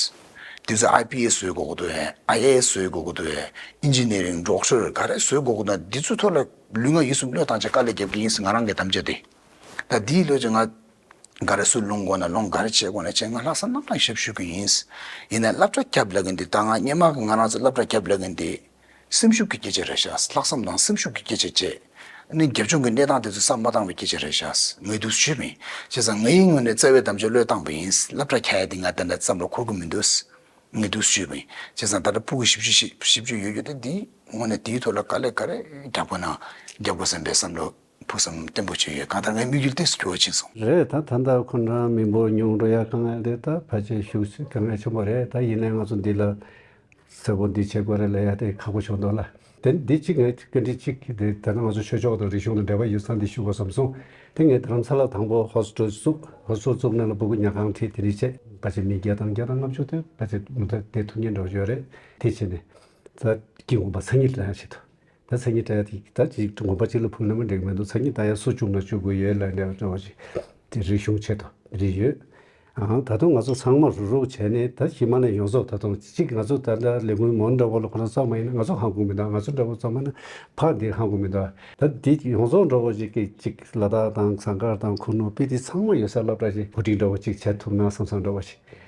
འདི་ཚོ་ཨའི་པི་ཨེ་བཟོས་དགོས་ཀྱི་འདུག་ཨེ་ཨའི་ཨའེ་བཟོས་དགོས་ཀྱི་འདུག་ཨེ་ཨིན་ཇི་ནེ་རིང་འབྲོག་ཆུ་རེད་ག་རེ་བཟོས་དགོས་ཀྱི་འདུག་འདི་ཚོའི་ཐོག་ལ་ལུས་ངག་ཡིད་གསུམ་བློས་བཏང་བྱེད་དཀའ་ལས་རྒྱབ་མཁན་ཡིན་ང་རང་གི་དམ་བཅའ་དེ། ད་འདིའི་བློས་ཀྱི་ང། ག་རེ་སུ་སློང་དགོས་ན་སློང་ག་རེ་བྱེད་དགོས་ན་བྱེད་ང་ལྷག་བསམ་རྣམ་གྲངས་ཞབས་ཞུ་གྱི་ཡིན། ཡིན་ན་བསླབ་བྱ་རྒྱབ་ལ་གི་འདི་ད་ང་སྙན་མ་གི་ང་རང་ཚོ་བསླབ་བྱ་རྒྱབ་ལ་གི་འདི། སེམས་ཤུགས་ཀྱི་སྐྱེད་བྱེད་རེད་ཤག་ལྷག་བསམ་དང་སེམས་ཤུགས་ཀྱི་སྐྱེད་བྱེད་བཅས། ནི་རྒྱབ་ལྗོངས་ཀྱི་གནས་སྟངས་དེ་ཚོ་བསམ་མ་བཏང་བའི་སྐྱེད་བྱེད་རེད་ཤག་ངས་སྡུག་ཟུར་ཞུས་མིན། བྱས་ཙང་ངའི་ངོས་ནས་བརྩེ་བའི་དམ་བཅའ་བློས་བཏང་བ་ཡིན་བསླབ་གྲྭ་ཁྱད་དེ་ང་བདེན་པའི་བསམ་བློ་འཁོར་གི་མི་འདུག་ངས་སྡུག་ཟུར་ཞུས་མིན། བྱས་ཙང་ད་ལྟ་པུ་གུ་ཞིབ་གཅོད་ཞིབ་གཅོད་ཡོད་རྒྱུ་དེ་འདིའི་ངོ་ནས་དེའི་ཐོག་ལ་དཀའ་ལས་ག་རེ་རྒྱབ་དགོས་ན་རྒྱབ་དགོས་བསམ་པའི་བསམ་བློ། ཕུགས་བསམ་བརྟན་པོ་བཅོལ་ཡོད་གང་ལྟར་ངའི་དམིགས་ཡུལ་གཏིང་ཟུར་གྱུར་བ་བྱིན་སོང། རེད་ད་ད་ལྟ་ཁོ་འདྲ་མི་འབོར་ཉུང་འགྲོ་ཡག་གང་ཡག་རེད་ད་ཕལ་ཆེར་ཤུགས་ཆེ་གང་ངེས་བྱུང་བ་རེད་ད་ཡིན་ནའི་ང་ཚོ་འདི་ལ་གསལ་པོ་འདི་བྱེད་དགོས་རེད་ལ་ཡ་དེ་ཁག་པོ་བྱུང་འདུག་ལ་དེ་འདི་གཅིག་ངས་སྐད་འཕྲིན་གཅིག་གིས་དེ་ད་ང་ཚོ་ཆོས་ཕྱོགས་དང་རིག་གཞུང་དང་འབྲེལ་བ་ཡོད་ས་འདི་ཞུ་དགོས་བསམ་སོང་དེ་ངས་དྷ་རམ་ས་ལ་དང་པོ་ཧོ་སི་ཀྲོལ་བཙུགས་ཧོ་སི་ཀྲོལ་བཙུགས་ནས་ལ་སྦུ་གུ་ཉག་གང་ཁྲིད་དེ་འདྲི་བྱས་ཕལ་ཆེར་མི་བརྒྱད་དང་བརྒྱ་དང་ལྔ་བཅུ་དེ་ཕལ་ཆེར་མུ་མཐའ་དེ་ཐུགས་ངེས་འགྲོ་བཞོན་རེད་དེ་བྱས་ནས་ད་དཀྱིལ་མགོན་པ་ཚ་གཉིས་ལ་ཡང་བྱེད་ཐུབ། ད་མཚན་ཉིད་ད་ཡག་ད་ཅིག་དགོན་པ་གཅིག་ལ་ཕུག་ན་མི་འགྲིག་མི་འདུག་མཚན་ཉིད་ད་ཡག་སུ་བཅུག་ན་བཅུག་དགོས་ཡོད་ལ་འདྲ་བ་འདྲ་བ་ཞིག་དེ་རིག་གཞུང་ཆེད་དུ་བྲིས་ཡོད། ཨང་ད་དུང་ང་ཚོ་ཚང་མ་རུག་རུག་བྱས་ནས་ད་ཕྱི་མ་ནས་ཡོང་ཟོག་ད་དུང་གཅིག་ང་ཚོ་ད་ལྟ་ལས་སྔོན་མོ་འདྲ་བོ་ལ་ཁོ་ན་ཙང་མ་ཡིན་ན་ང་ཚོ་ཧང་གོང་མི་འདུག་ང་ཚོ་འདྲ་བོ་ཙང་མ་ན་ཕ་འདི་ཧང་གོང་མི་འདུག་ད་དེ་ཡོང་ཟོག་འདྲ་བོ་ཞིག་གི་གཅིག་ལ་དྭགས་དང་ཟངས་དཀར་དང་ཁུ་ནུ་དཔེ་དེ་ཚང་མ་ཡོད་སར་ལབ་འདྲ་ཞིག་བུ་ཕྲུག་འདྲ་བོ་གཅིག་བྱ་ཐུབ་ན་བསམ་བསམ་འདྲ་བ་ཞིག།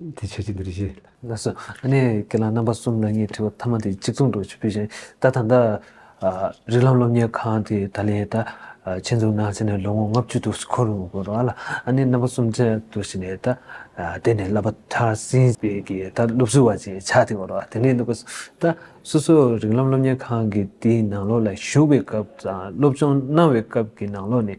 དེ་ཆོས་ཅན་འདིར་བཞེད། ལགས་སོ། གནས་ཀྱི་ལམ་རྣམ་པ་གསུམ་ལ་ངས་དྲིས་པ་ཐ་མ་དེ་གཅིག་མཚུངས་འདུག་ཅེས་བོས་ཤིང་ད་ད་ལྟ། རིགས་ལམ་སློབ་གཉེར་ཁང་དེ་ད་ལན་ད། ཆེད་འཛུགས་གནང་ཚེ་ནས་ལོ་ངོ་ལྔ་བཅུ་དུ་འཁོར་རུང་བོར་བ་ལ། གནས་རྣམ་པ་གསུམ་ཅན་དུ་བཞེད་ནས་ད། དེ་ནས་བསླབ་པ་མཐར་ཟིན་པའི་གི་ད་སློབ་ཟུར་བ་ཅན་ཆགས་ཏེ་བོར་བ་དེ་ནས་བསླབ་པ་ཟུར། ད་སོ་སོ་རིགས་ལམ་སློབ་གཉེར་ཁང་གི་དེའི་ནང་ལོགས་ལ་བཞུགས་པའི་སྐབས་དང་སློབ་སྦྱོང་གནང་བའི་སྐབས་ཀྱི་ནང་ལོགས་ནས་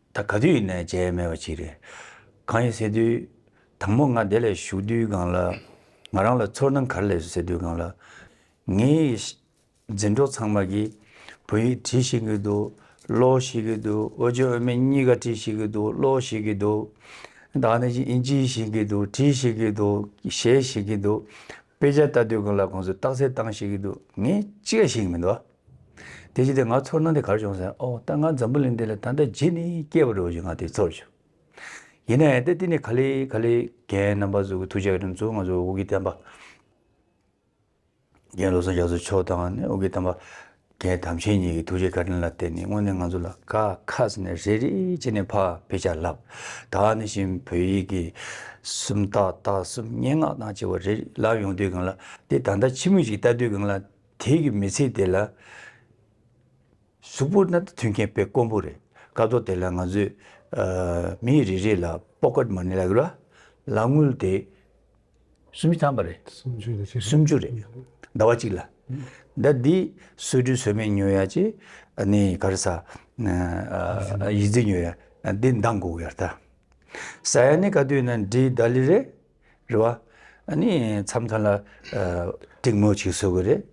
ད་ག་དུས་ནས་བྱས་མེད་པ་ཅིག་རེད། གང་ཡིན་ཟེར་དུས། དང་པོ་ང་དེ་ལ་ཞུགས་དུས་སྒང་ལ། ང་རང་ལ་ཚོར་སྣང་ག་རེ་ལས་སོ་ཟེར་དུས་སྒང་ལ། ངའི། འཛིན་གྲོགས་ཚང་མ་གིས། བོད་ཡིག་བྲིས་ཤིག་གི་འདུག་ཀློག་ཤིག་གི་འདུག་ཨོ་ཅོ་ཨོ་མེ་གཉིས་ཀ་བྲིས་ཤིག་གི་འདུག་ཀློག་ཤིག་གི་འདུག། ད་ནི་ཨིན་ཇི་ཤིག་གི་འདུག་བྲིས་ཤིག་གི་འདུག་ཞེས་ཤིག་གི་འདུག། དཔེ་ཆ་ལྟ་དུས་སྒང་ལ་ཁོང་ཚོས་རྟགས་གསལ་བཏང་ཤིག་གི་འདུག་ངས་ཅི་ག་ཞིག་མི་འདུག་ཨ། དེ་བཞིན་དུ་ང་ཚོར་སྣང་དེ་གར་བྱུང་ཟེར། ཨོ་ད་ང་འཛམ་བུ་གླིང་འདི་ལ་ད་ལྟ་བརྗེད་ནས་སྐྱེས་པ་རེད་བ་ཞིག་ང་དེ་ཚོར་བྱུང། ཡིན་ནའི་ད་འདི་ནས་ག་ལེ་ག་ལེ་རྒན་རྣམ་པ་ཚོ་གི་ཐུགས་རྗེ་ག་རེ་མཚོན་ང་ཚོ་དབུ་དགེ་བསྟན་པ། རྒན་བློ་བཟང་རྒྱ་མཚོ་མཆོག་དང་ནི་དབུ་དགེ་བསྟན་པ་རྒན་དམ་ཆེན་གཉིས་ཀྱི་ཐུགས་རྗེ་ག་རེ་ལ་བརྟེན་ནས་དངོས་ནས་ང་ཚོ་ལ་དགའ་ཁ་ཟེར་ནས་རེ་རེ་བྱས་ནས་ཕ་བེད་སྤྱད་ལབ། ད་ནི་བཞིན་བོད་ཡིག་གི་སུམ་རྟགས་རྟགས་གསུམ་སྙན་ངག་དང་བཅས་པ་རེ་རེ་ལབ་ཡོང་དུས་གང་ལ་དེ་ད་ལྟ་ཕྱི་མོ་ཞིག་བལྟ་དུས་གང་ལ་དེའི་གི་མི་ཚེ་དེ་ལ་གཟུགས་པོ་སྣ་དང་མཐུན་མཁན་དཔེ་དཀོན་པོ་རེད་ཀ་ཏོ་དེ་ལ་ང་ཚོས་མི་རེ་རེ་ལ pocket money ལ་རུ་ལ་དངུལ་དེ་སུམ་ཅུ་ཐམ་པ་རེད་སུམ་ཅུ་རེད་ཟླ་བ་གཅིག་ལ་ཟླ་འདི་གསོལ་སྤྲུལ་ཟོལ་མེད་ཉོས་ཡ་ཅེ་ནི་ག་རེ་ས་ཡིད་རྫི་ཉོས་ཡ་འདི་འདང་དགོས་ཡ་ལྟ་ས་ཡ་ནི་ག་དུས་ན་འདྲི་ཟླ་ལི་རེད། རེད་བ། ནི་མཚམས་མཐའ་ལ་གྲིག་མོ་ཞིག་བཟོ་གི་རེད།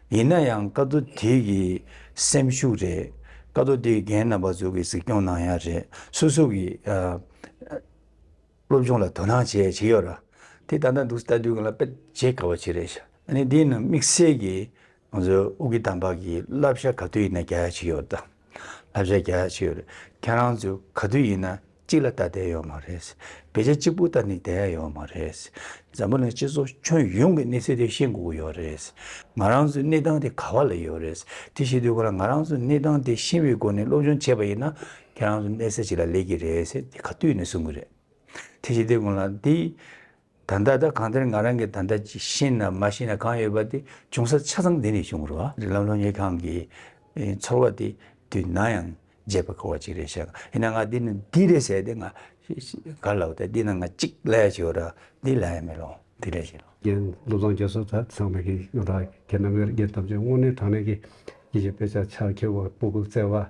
ཡིན་ན་ཡང་བཀའ་བསྡུ་དེ་གི་སེམས་ཤུགས་རེད། བཀའ་བསྡུ་དེ་རྒན་རྣམ་པ་ཚོ་གི་གཟིགས་སྐྱོང་གནང་ཡ་རེད། སུ་སུ་གི་སློབ་སྦྱོང་ལ་དོ་སྣང་བྱས་བྱས་ཡོད་ར། དེ་ད་ལྟ་འདུག་སྟ་དུས་གང་ལ་དཔེ་བྱེད་དཀའ་བ་ཞིག་རེད། ནི་དེ་རྣམས་དམིགས་བསལ་གི་ང་ཚོའི་དབུས་ཀྱི་དམ་པ་གྱི་བསླབ་བྱ་ག་དུས་ཡིན་ན་བརྒྱ་ཡ་གཅིག་ཡོད། བསླབ་བྱ་བརྒྱ་ཡ་གཅིག་ཡོད། ཁྱེད་རང་ཚོས་ག་དུས་ཡིན་ན་གཅིག་ལ་ལྟ་བསྡད་ཡོད་མ་རེད། བེད་སྤྱད་གཅིག་པུ་ལྟ་ནས་བསྡད་ཡ་ཡོད་མ་རེད། འཛམ་བུ་ལ་སྤྱི་ཚོགས་ཁྱོན་ཡོངས་ཀྱི་གནས་ཚུལ་དེ་ཤེས་དགོས་ཀྱི་ཡོད་རེད། ང་རང་ཚོའི་གནས་སྟངས་དེ་ག་བ་ལ་ཡོད་རེད། དེ་ཤེས་དུས་ཁོ་རང་ང་རང་ཚོའི་གནས་སྟངས་དེ་ཤེས་པའི་སྒོ་ནས་སློབ་སྦྱོང་བྱས་པ་ཡིན་ན་ཁྱེད་རང་ཚོ་གནས་ས་ཅི་ལ་ལས་ཀྱི་རེད་ཟེར་དེ་ག་དུས་ཡིན་ན་གསུང་གི་རེད། དེ་ཤེས་དུས་ཁོ་རང་དེ། ད་ལྟ་ད་གང་དེར་ང་རང་གིས་ད་ལྟ་ཅི་ཤེས་ན་མ་ཤེས་ན་གང་ཡོད་པ་དེ་ཅུང་ཟད་ཆ་ཚང་འདི་ནས་བྱུང་རོགས་ཨ། རི་ལམ་ལྷོ་གཉེར་ཁང་གི་ཚོར་བ་དེ་དུས་ནམ་ཡང་བརྗེད་པར་གོ་བ་ཅིག་རེད་བཤད་ཡིན་ན་ང་འདི་ནས་འདི་རེད་ཟེར་ཏེ་ང་གར་ལ་བ་དེ་འདི་ནང་ང་ཅིག་ལ་ཡ་བྱེད་རོགས་འདི་ལ་ཡ་མེད་རོགས་འདི་ལ་བྱེད་རོགས། རྒན་བློ་བཟང་རྒྱ་མཚོ་དག་ཚང་མས་གི་ཡོང་ད་ཁྱེད་རྣམ་པས་རྒན་ཐམས་ཅད་དངོས་གནས་དྲང་གནས་གི་ཡིད་ཀྱི་དཔེ་ཆ་ཕྱག་འཁྱེར་བ་སྤུ་གུ་བཙལ་བ་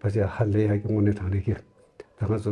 བ་ཅི་ཧ་ལས་ཡག་གི་དངོས་གནས་དྲང་གནས་གི་ད་ང་ཚོ་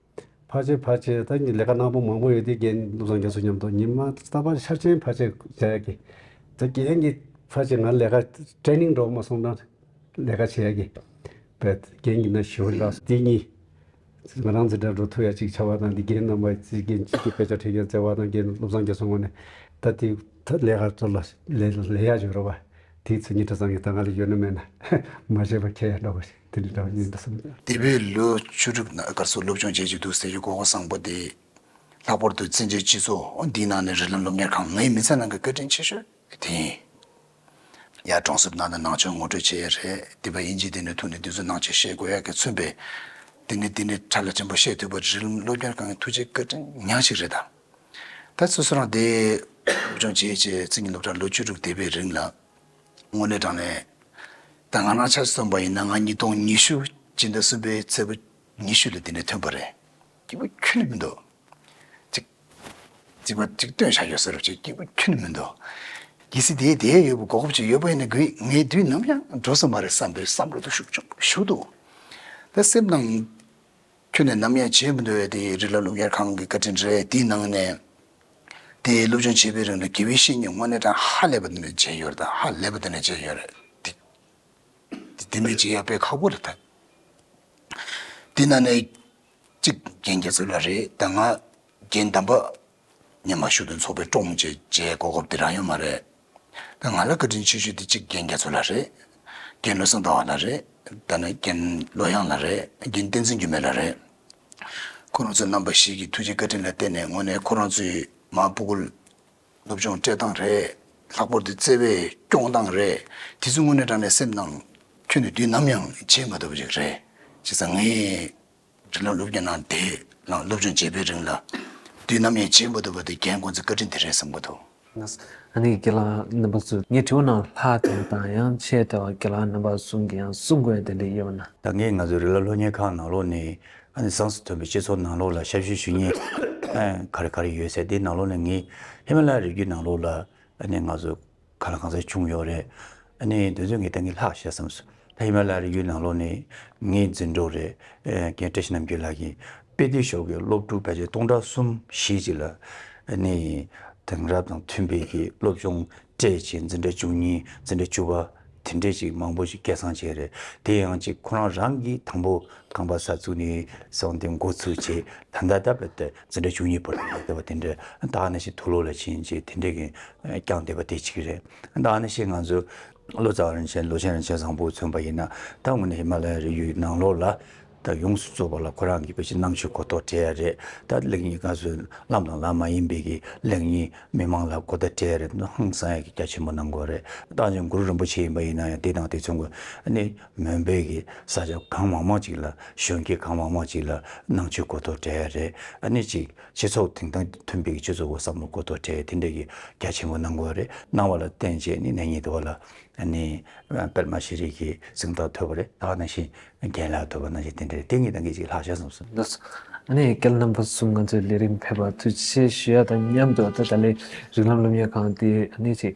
ཕར་ཆེར་ཕར་ཆེར་ད་ལས་ཀ་ནག་པོ་མང་པོ་ཡོད་དེ་རྒན་བློ་བཟང་རྒྱ་མཚོ་མཉམ་དུ་ཉིན་མ་རྟག་པར་ཤར་ཆེན་ཕར་ཆེར་བྱས་ཀྱི། ད་རྒན་གྱི་ཕར་ཆེར་ང་ལས་ཀ Training འགྲོ་མ་སོང་ན་ལས་ཀ་བྱས་ཀྱི། བས་རྒན་གྱི་ན་ཞོ་འདྲ་དེ་གཉིས། ང་རང་ཚེ་དྲན་འགྲོ་ཐུག་ཡ་གཅིག་ཆ་བ་དང་དེ་རྒན་རྣམ་པ་ཚེ་རྒན་གཅིག་གི་དཔེ་ཆ་ཁྲིད་མཁན་བརྩེ་བ་དང་རྒན་བློ་བཟང་རྒྱ་མཚོ་ངོ་ནས་ད་དེ་ད་ལས་ཀ་ཚོ་ལ་ལས་ལས་ཡ་བྱོས་རོགས་པ། དེའི་ཚེ་ཉིན་གྲ་ཙམ་གྱི་ད་ང་ལ་ཡོད་ན་མེད་ན་མ་བྱས་པ་ཁྱེད་ཡ་འདྲ་བོ། དེ་ནི་བདག་ཉིད་བསམ་ཡས། འདས་པའི་ལོ་བཅུ་དྲུག་ནང་སྒར་སོགས་སློབ་སྦྱོང་བྱེད་ཀྱི་འདུག་ཟེར་རྒྱུ་གོ་གོ་བཟང་པོ་འདེད། ལྷག་པར་དུ་བཙན་བྱོལ་སྤྱི་ཚོགས་འདིའི་ནང་ནས་རི་ལམ་སློབ་གཉེར་ཁང་ངའི་མི་ཚེ་ནང་གི་བཀའ་དྲིན་ཆེ་ཤོས་དེ་ཡིན། ཡར་གྲོང་གསེབ་ནང་ནས་ནང་ཆོས་ངོ་སྤྲོད་བྱེད་ཡས་རེད་དེ་བས་ཨིན་ཇི་དེ་ནས་ཐུག་ནས་དེ་ཚོ་ནང་ཆོས་བཤད་དགོས་ཡག་གི་མཚོན་པས། དེ་ནས་དེ་ནས་ཁྲ་ལ་ཆེན་པོ་བཤད་ཐུབ་པ་རི་ལམ་སློབ་གཉེར་ཁང་གི་ཐུགས་རྗེ་བཀའ་དྲིན་ཉག་ཅིག་རེད་ད། ད་སོ་སོ་རང་འདེད། སློབ་སྦྱོང་བྱེད་བྱེད་ཚིག་ངའི་སློབ་གྲྭར་ལོ་བཅུ་དྲུག་འདས་པའི་རིང་ལ། དངོས་གནས་དྲང་གནས་ད་ང་ན་ཆ་སོན་པ་ཡིན་ན་ང་ཉིས་སྟོང་ཉི་ཤུ་སྤྱི་ཟླ་གསུམ་པའི་ཚེས་པོ་ཉི་ཤུ་ལ་དེ་ནས་ཐོན་པ་རེད་སྐྱིད་པོ་ཁྱོན་ནས་མི་འདུག་ཅིག་ཅིག་པ་ཅིག་སྟོན་བཞག་ཡོད་ས་རེད་བྱས་སྐྱིད་པོ་ཁྱོན་ནས་མི་འདུག་གལ་སྲིད་དེ་དེའི་ཡོད་པའི་གོ་སྐབས་ཅིག་ཡོད་པ་ཡིན་ན་དགོས་ངའི་དུས་ནམ་ཡང་འགྲོ་ས་མ་རེད་བསམ་པའི་བསམ་བློ་དུ་ཤུགས་ཆུང་ཞུགས་འདུག་ད་སེམས་ནང། ཁྱོད་ནི་ནམ་ཡང་བྱེད་མི་འདོད་པའི་དེའི་རིགས་ལ་སློབ་གཉེར་ཁང་གི་བཀའ་དྲིན་རེ་དེའི་ནང་ནས་དེའི་སློབ་སྦྱོང་བྱེད་པའི་རིང་ལ་དགེ་བའི་བཤེས་གཉེན་དངོས་གནས་དང་ཧ་ལས་པ་འདི་ནས་མཇལ་ཡོད་རེད་ཧ་ལས་པ་འདི་ནས་མཇལ་ཡོད་རེད་དེ། དེ་མི་མཇལ་ཡག་པས་ཁག་པོ་རེད་ད། དེའི་ནང་ནས་གཅིག་རྒན་རྒྱ་མཚོ་ལགས་རེད་ད་ང་རྒན་དམ་པ་ཉན་པར་ཞུ་དོན་ཚོགས་པའི་ཀྲོང་བཅས་བཅས་སྐོར་སྐོར་དེ་རང་ཡོད་མ་རེད་ད་ང་ལ་བཀའ་དྲིན་ཆེ་ཞུ་དེ་གཅིག་རྒན་རྒྱ་མཚོ་ལ་རེད་རྒན་བློ་བཟང་ཟླ་བ་ལ་རེད་ད་ནི་རྒན་བློ་དབྱངས་ལ་རེད་རྒན་བསྟན་འཛིན་འགྱུར་མེད་ལ་རེད། ཁོ་རང་ཚོ་རྣམ་པ་ཞིག་གི་ཐུགས་རྗེ་བཀའ་དྲིན་ལ་བརྟེན་ནས་དངོས་གནས་ཁོ་རང་ཚོའི་མ་སྤུ་གུ་སློབ་སྦྱོང་སྤྲད་སྟངས་རེད་ལྷག་པོར་དེ་བརྩེ་བས་སྐྱོང་སྟངས་རེད་དེ་ཚོ་དངོས་གནས་དྲང་གནས་སེམས་ནང་ཁྱོན་ནས་དུས་ནམ་ཡང་བརྗེད་མ་ཐུབ་པ་ཞིག་རེད་ཅེས་ཚང་ངེས། རིགས་ལམ་སློབ་གཉེར་གནང་དེ་ནང་སློབ་སྦྱོང་བྱེད་པའི་རིང་ལ། དུས་ནམ་ཡང་བྱེད་མ་ཐུབ་པ་དེ་རྒན་ཁོང་ཚོས་བཀའ་དྲིན་དེ་རེད་བསམ་གྱི་འདུག། ཨ་ནེ་དགེ་ལགས་རྣམ་པ་ཚོས་ངས་དྲི་བ་གནང་ལྷག་དེ་དང་ཡང་ཆེས་དེ་བ་དགེ་ལགས་རྣམ་པ་གསུམ་གྱིས་ཡང་གསུང་དགོས་དེ་འདྲ་ཡོད་པ་ན། ད་ངས་ང་ཚོའི་རིགས་ལམ་སློབ་གཉེར་ཁང་ནང་ལོགས་ནས་ཨ་ནེ་སངས་སུ་ཐོན་པའི་སྤྱི་ཚོགས་ནང་ལོགས་ལ་ཞབས་ཞུ་ཞུ་ཉེས་ག་རེ་ག་རེ་ཡོད་ཚད་དེ་ནང་ལོགས་ནས་ངས་ཧི་མ་ལ་ཡ་རི་རྒྱུད་ནང་ལོགས་ལ་ཨ་ནེ་ང་ཚོ་ག་ལ་གང་ཟག་བྱུང་ཡོད་རེད། ཨ་ནི་དེ་ཚོས་ངའི་སྟེང་གི་ལྷག་བཤད་བསམ་སོང། ད་ཧི་མ་ལ་ཡའི་རི་བོའི་ནང་ལོགས་ནས་ངའི་འཛིན་གྲོགས་རེ་ཀན་བཀྲ་ཤིས་རྣམ་རྒྱལ་ལགས་ཀྱིས་དཔེ་སྡུར་ཤོག་གི་སློབ་ཕྲུག་ཕལ་ཆེར་སྟོང་ཕྲག་གསུམ་བཞི་ཅིག་ལ་ཨ་ནི་དེང་རབས་དང་མཐུན་དཔེ་ཀྱི་སློབ་སྦྱོང་སྤྲད་རྗེས་འཛིན་གྲྭ་བཅུ་གཉིས་འཛིན་གྲྭ་བཅུ་པ་དེ་འདྲས་ཅིག་མང་པོ་ཅིག་སྐད་གསང་བྱས་རེད། དེ་ཡང་ཅིག་ཁོ་རང་རང་གིས་དང་པོ་ཁང་པ་གསར་བཙུགས་ནས་བཟུང་སྟེ་འགོ་ཚུགས་རྗེས་ད་ལྟ་ད་བར་དུ། འཛིན་གྲྭ་བཅུ་གཉིས་པོ་ལ་ལས་བསྡད་པ་དེ་འདྲས་ཏཱ་ནེ་ཤི་ཐུ་ལོ་ལ་ཕྱིན་རྗེས་དེ་འདྲས་ཀྱིས་བསྐྱངས་བསྡད་པ་དེ་གཅིག་རེད། ཏཱ་ནེ་ཤི་ང་ཚོས་བློ་བཟང་རིན་ཆེན་ལོ་ཆེན་རིན་ཆེན་བཟང་པོ་མཚོན་པ་ཡིན་ན་ད་སྔོན་ནས་ཧི་མ་ལ་ཡའི་རི་ཡུལ་ནང་ལོགས་ལ་ད་ཡོངས་སུ་རྫོགས་པ་ལ་ཁོ་རང་གིས་བོད་ཀྱི་གནམ་ཆོས་གོ་རྟོགས་བྲལ་ཡ་རེད་ད་གླེང་གཉིས་ཀ་གསོན་ལམ་དང་ལམ་མ་ཡིན་པས་ཀྱི་གླེང་གཉིས་མི་མང་ལ་གོ་བརྡ་བྲལ་ཡ་རེད་ཧང་སང་ཡ་གྱི་རྒྱ་ཆེན་པོ་གནང་དགོས་རེད་ཏཱ་ཇོ་མགུར་རིན་པོ་ཆེ་ཡིན་པ་ཡིན་ན་ཡང་དེ་དང་དེ་མཚུངས་ཀྱི་ནི། མོན་པའི་གི་ས་ཆ་གང་མང་མང་ཅིག་ལ་གཞོན་སྐྱེས་གང་མང་མང་ཅིག་ལ་ནང་ཆོས་གོ་ཐོབ་བྲལ་ཡ་རེད་ཨ་ནི་ཅིག་སྤྱི་ཚོགས་དེང་དང་མཐུན་པའི་གི་སྤྱོད་ཚུལ་འོག་བསམ་བློ་གོ་ཐོབ་བྲལ་དེ་འདྲའི་གི་རྒྱ་ཆེན་པོ་གནང་དགོས་རེད་གནང་བ་ལ་བརྟེན་བཅས་ནི་ནས་ཉིད་དུ་བ་ལ་ཨ་ནི་པད་མ་ཤེས་རིག་གི་གཟིངས་རྟགས་ཐོབ་པ་རེད་ད་ནང་བཞིན་རྒན་ལགས་ཐོབ་པ་ནང་བཞིན་དེ་འདྲ་རེད་དེ་གཉིས་དང་གི་ཅིག་ལྷག་ཆ་ཟུངས། འདུག་ཨ་ནི་སྐལ་རྣམ་པ་གསུམ་ང་ཚོའི་ལས་རིམ་ཕེབས་པ་དུས་ཆེན་ཞུ་ཡ་དང་མཉམ་དུ་ད་ལྟ་ལས་རིགས་ལམ་སློབ་གཉེར་ཁང་དེ་ཨ་ནི་ཅིག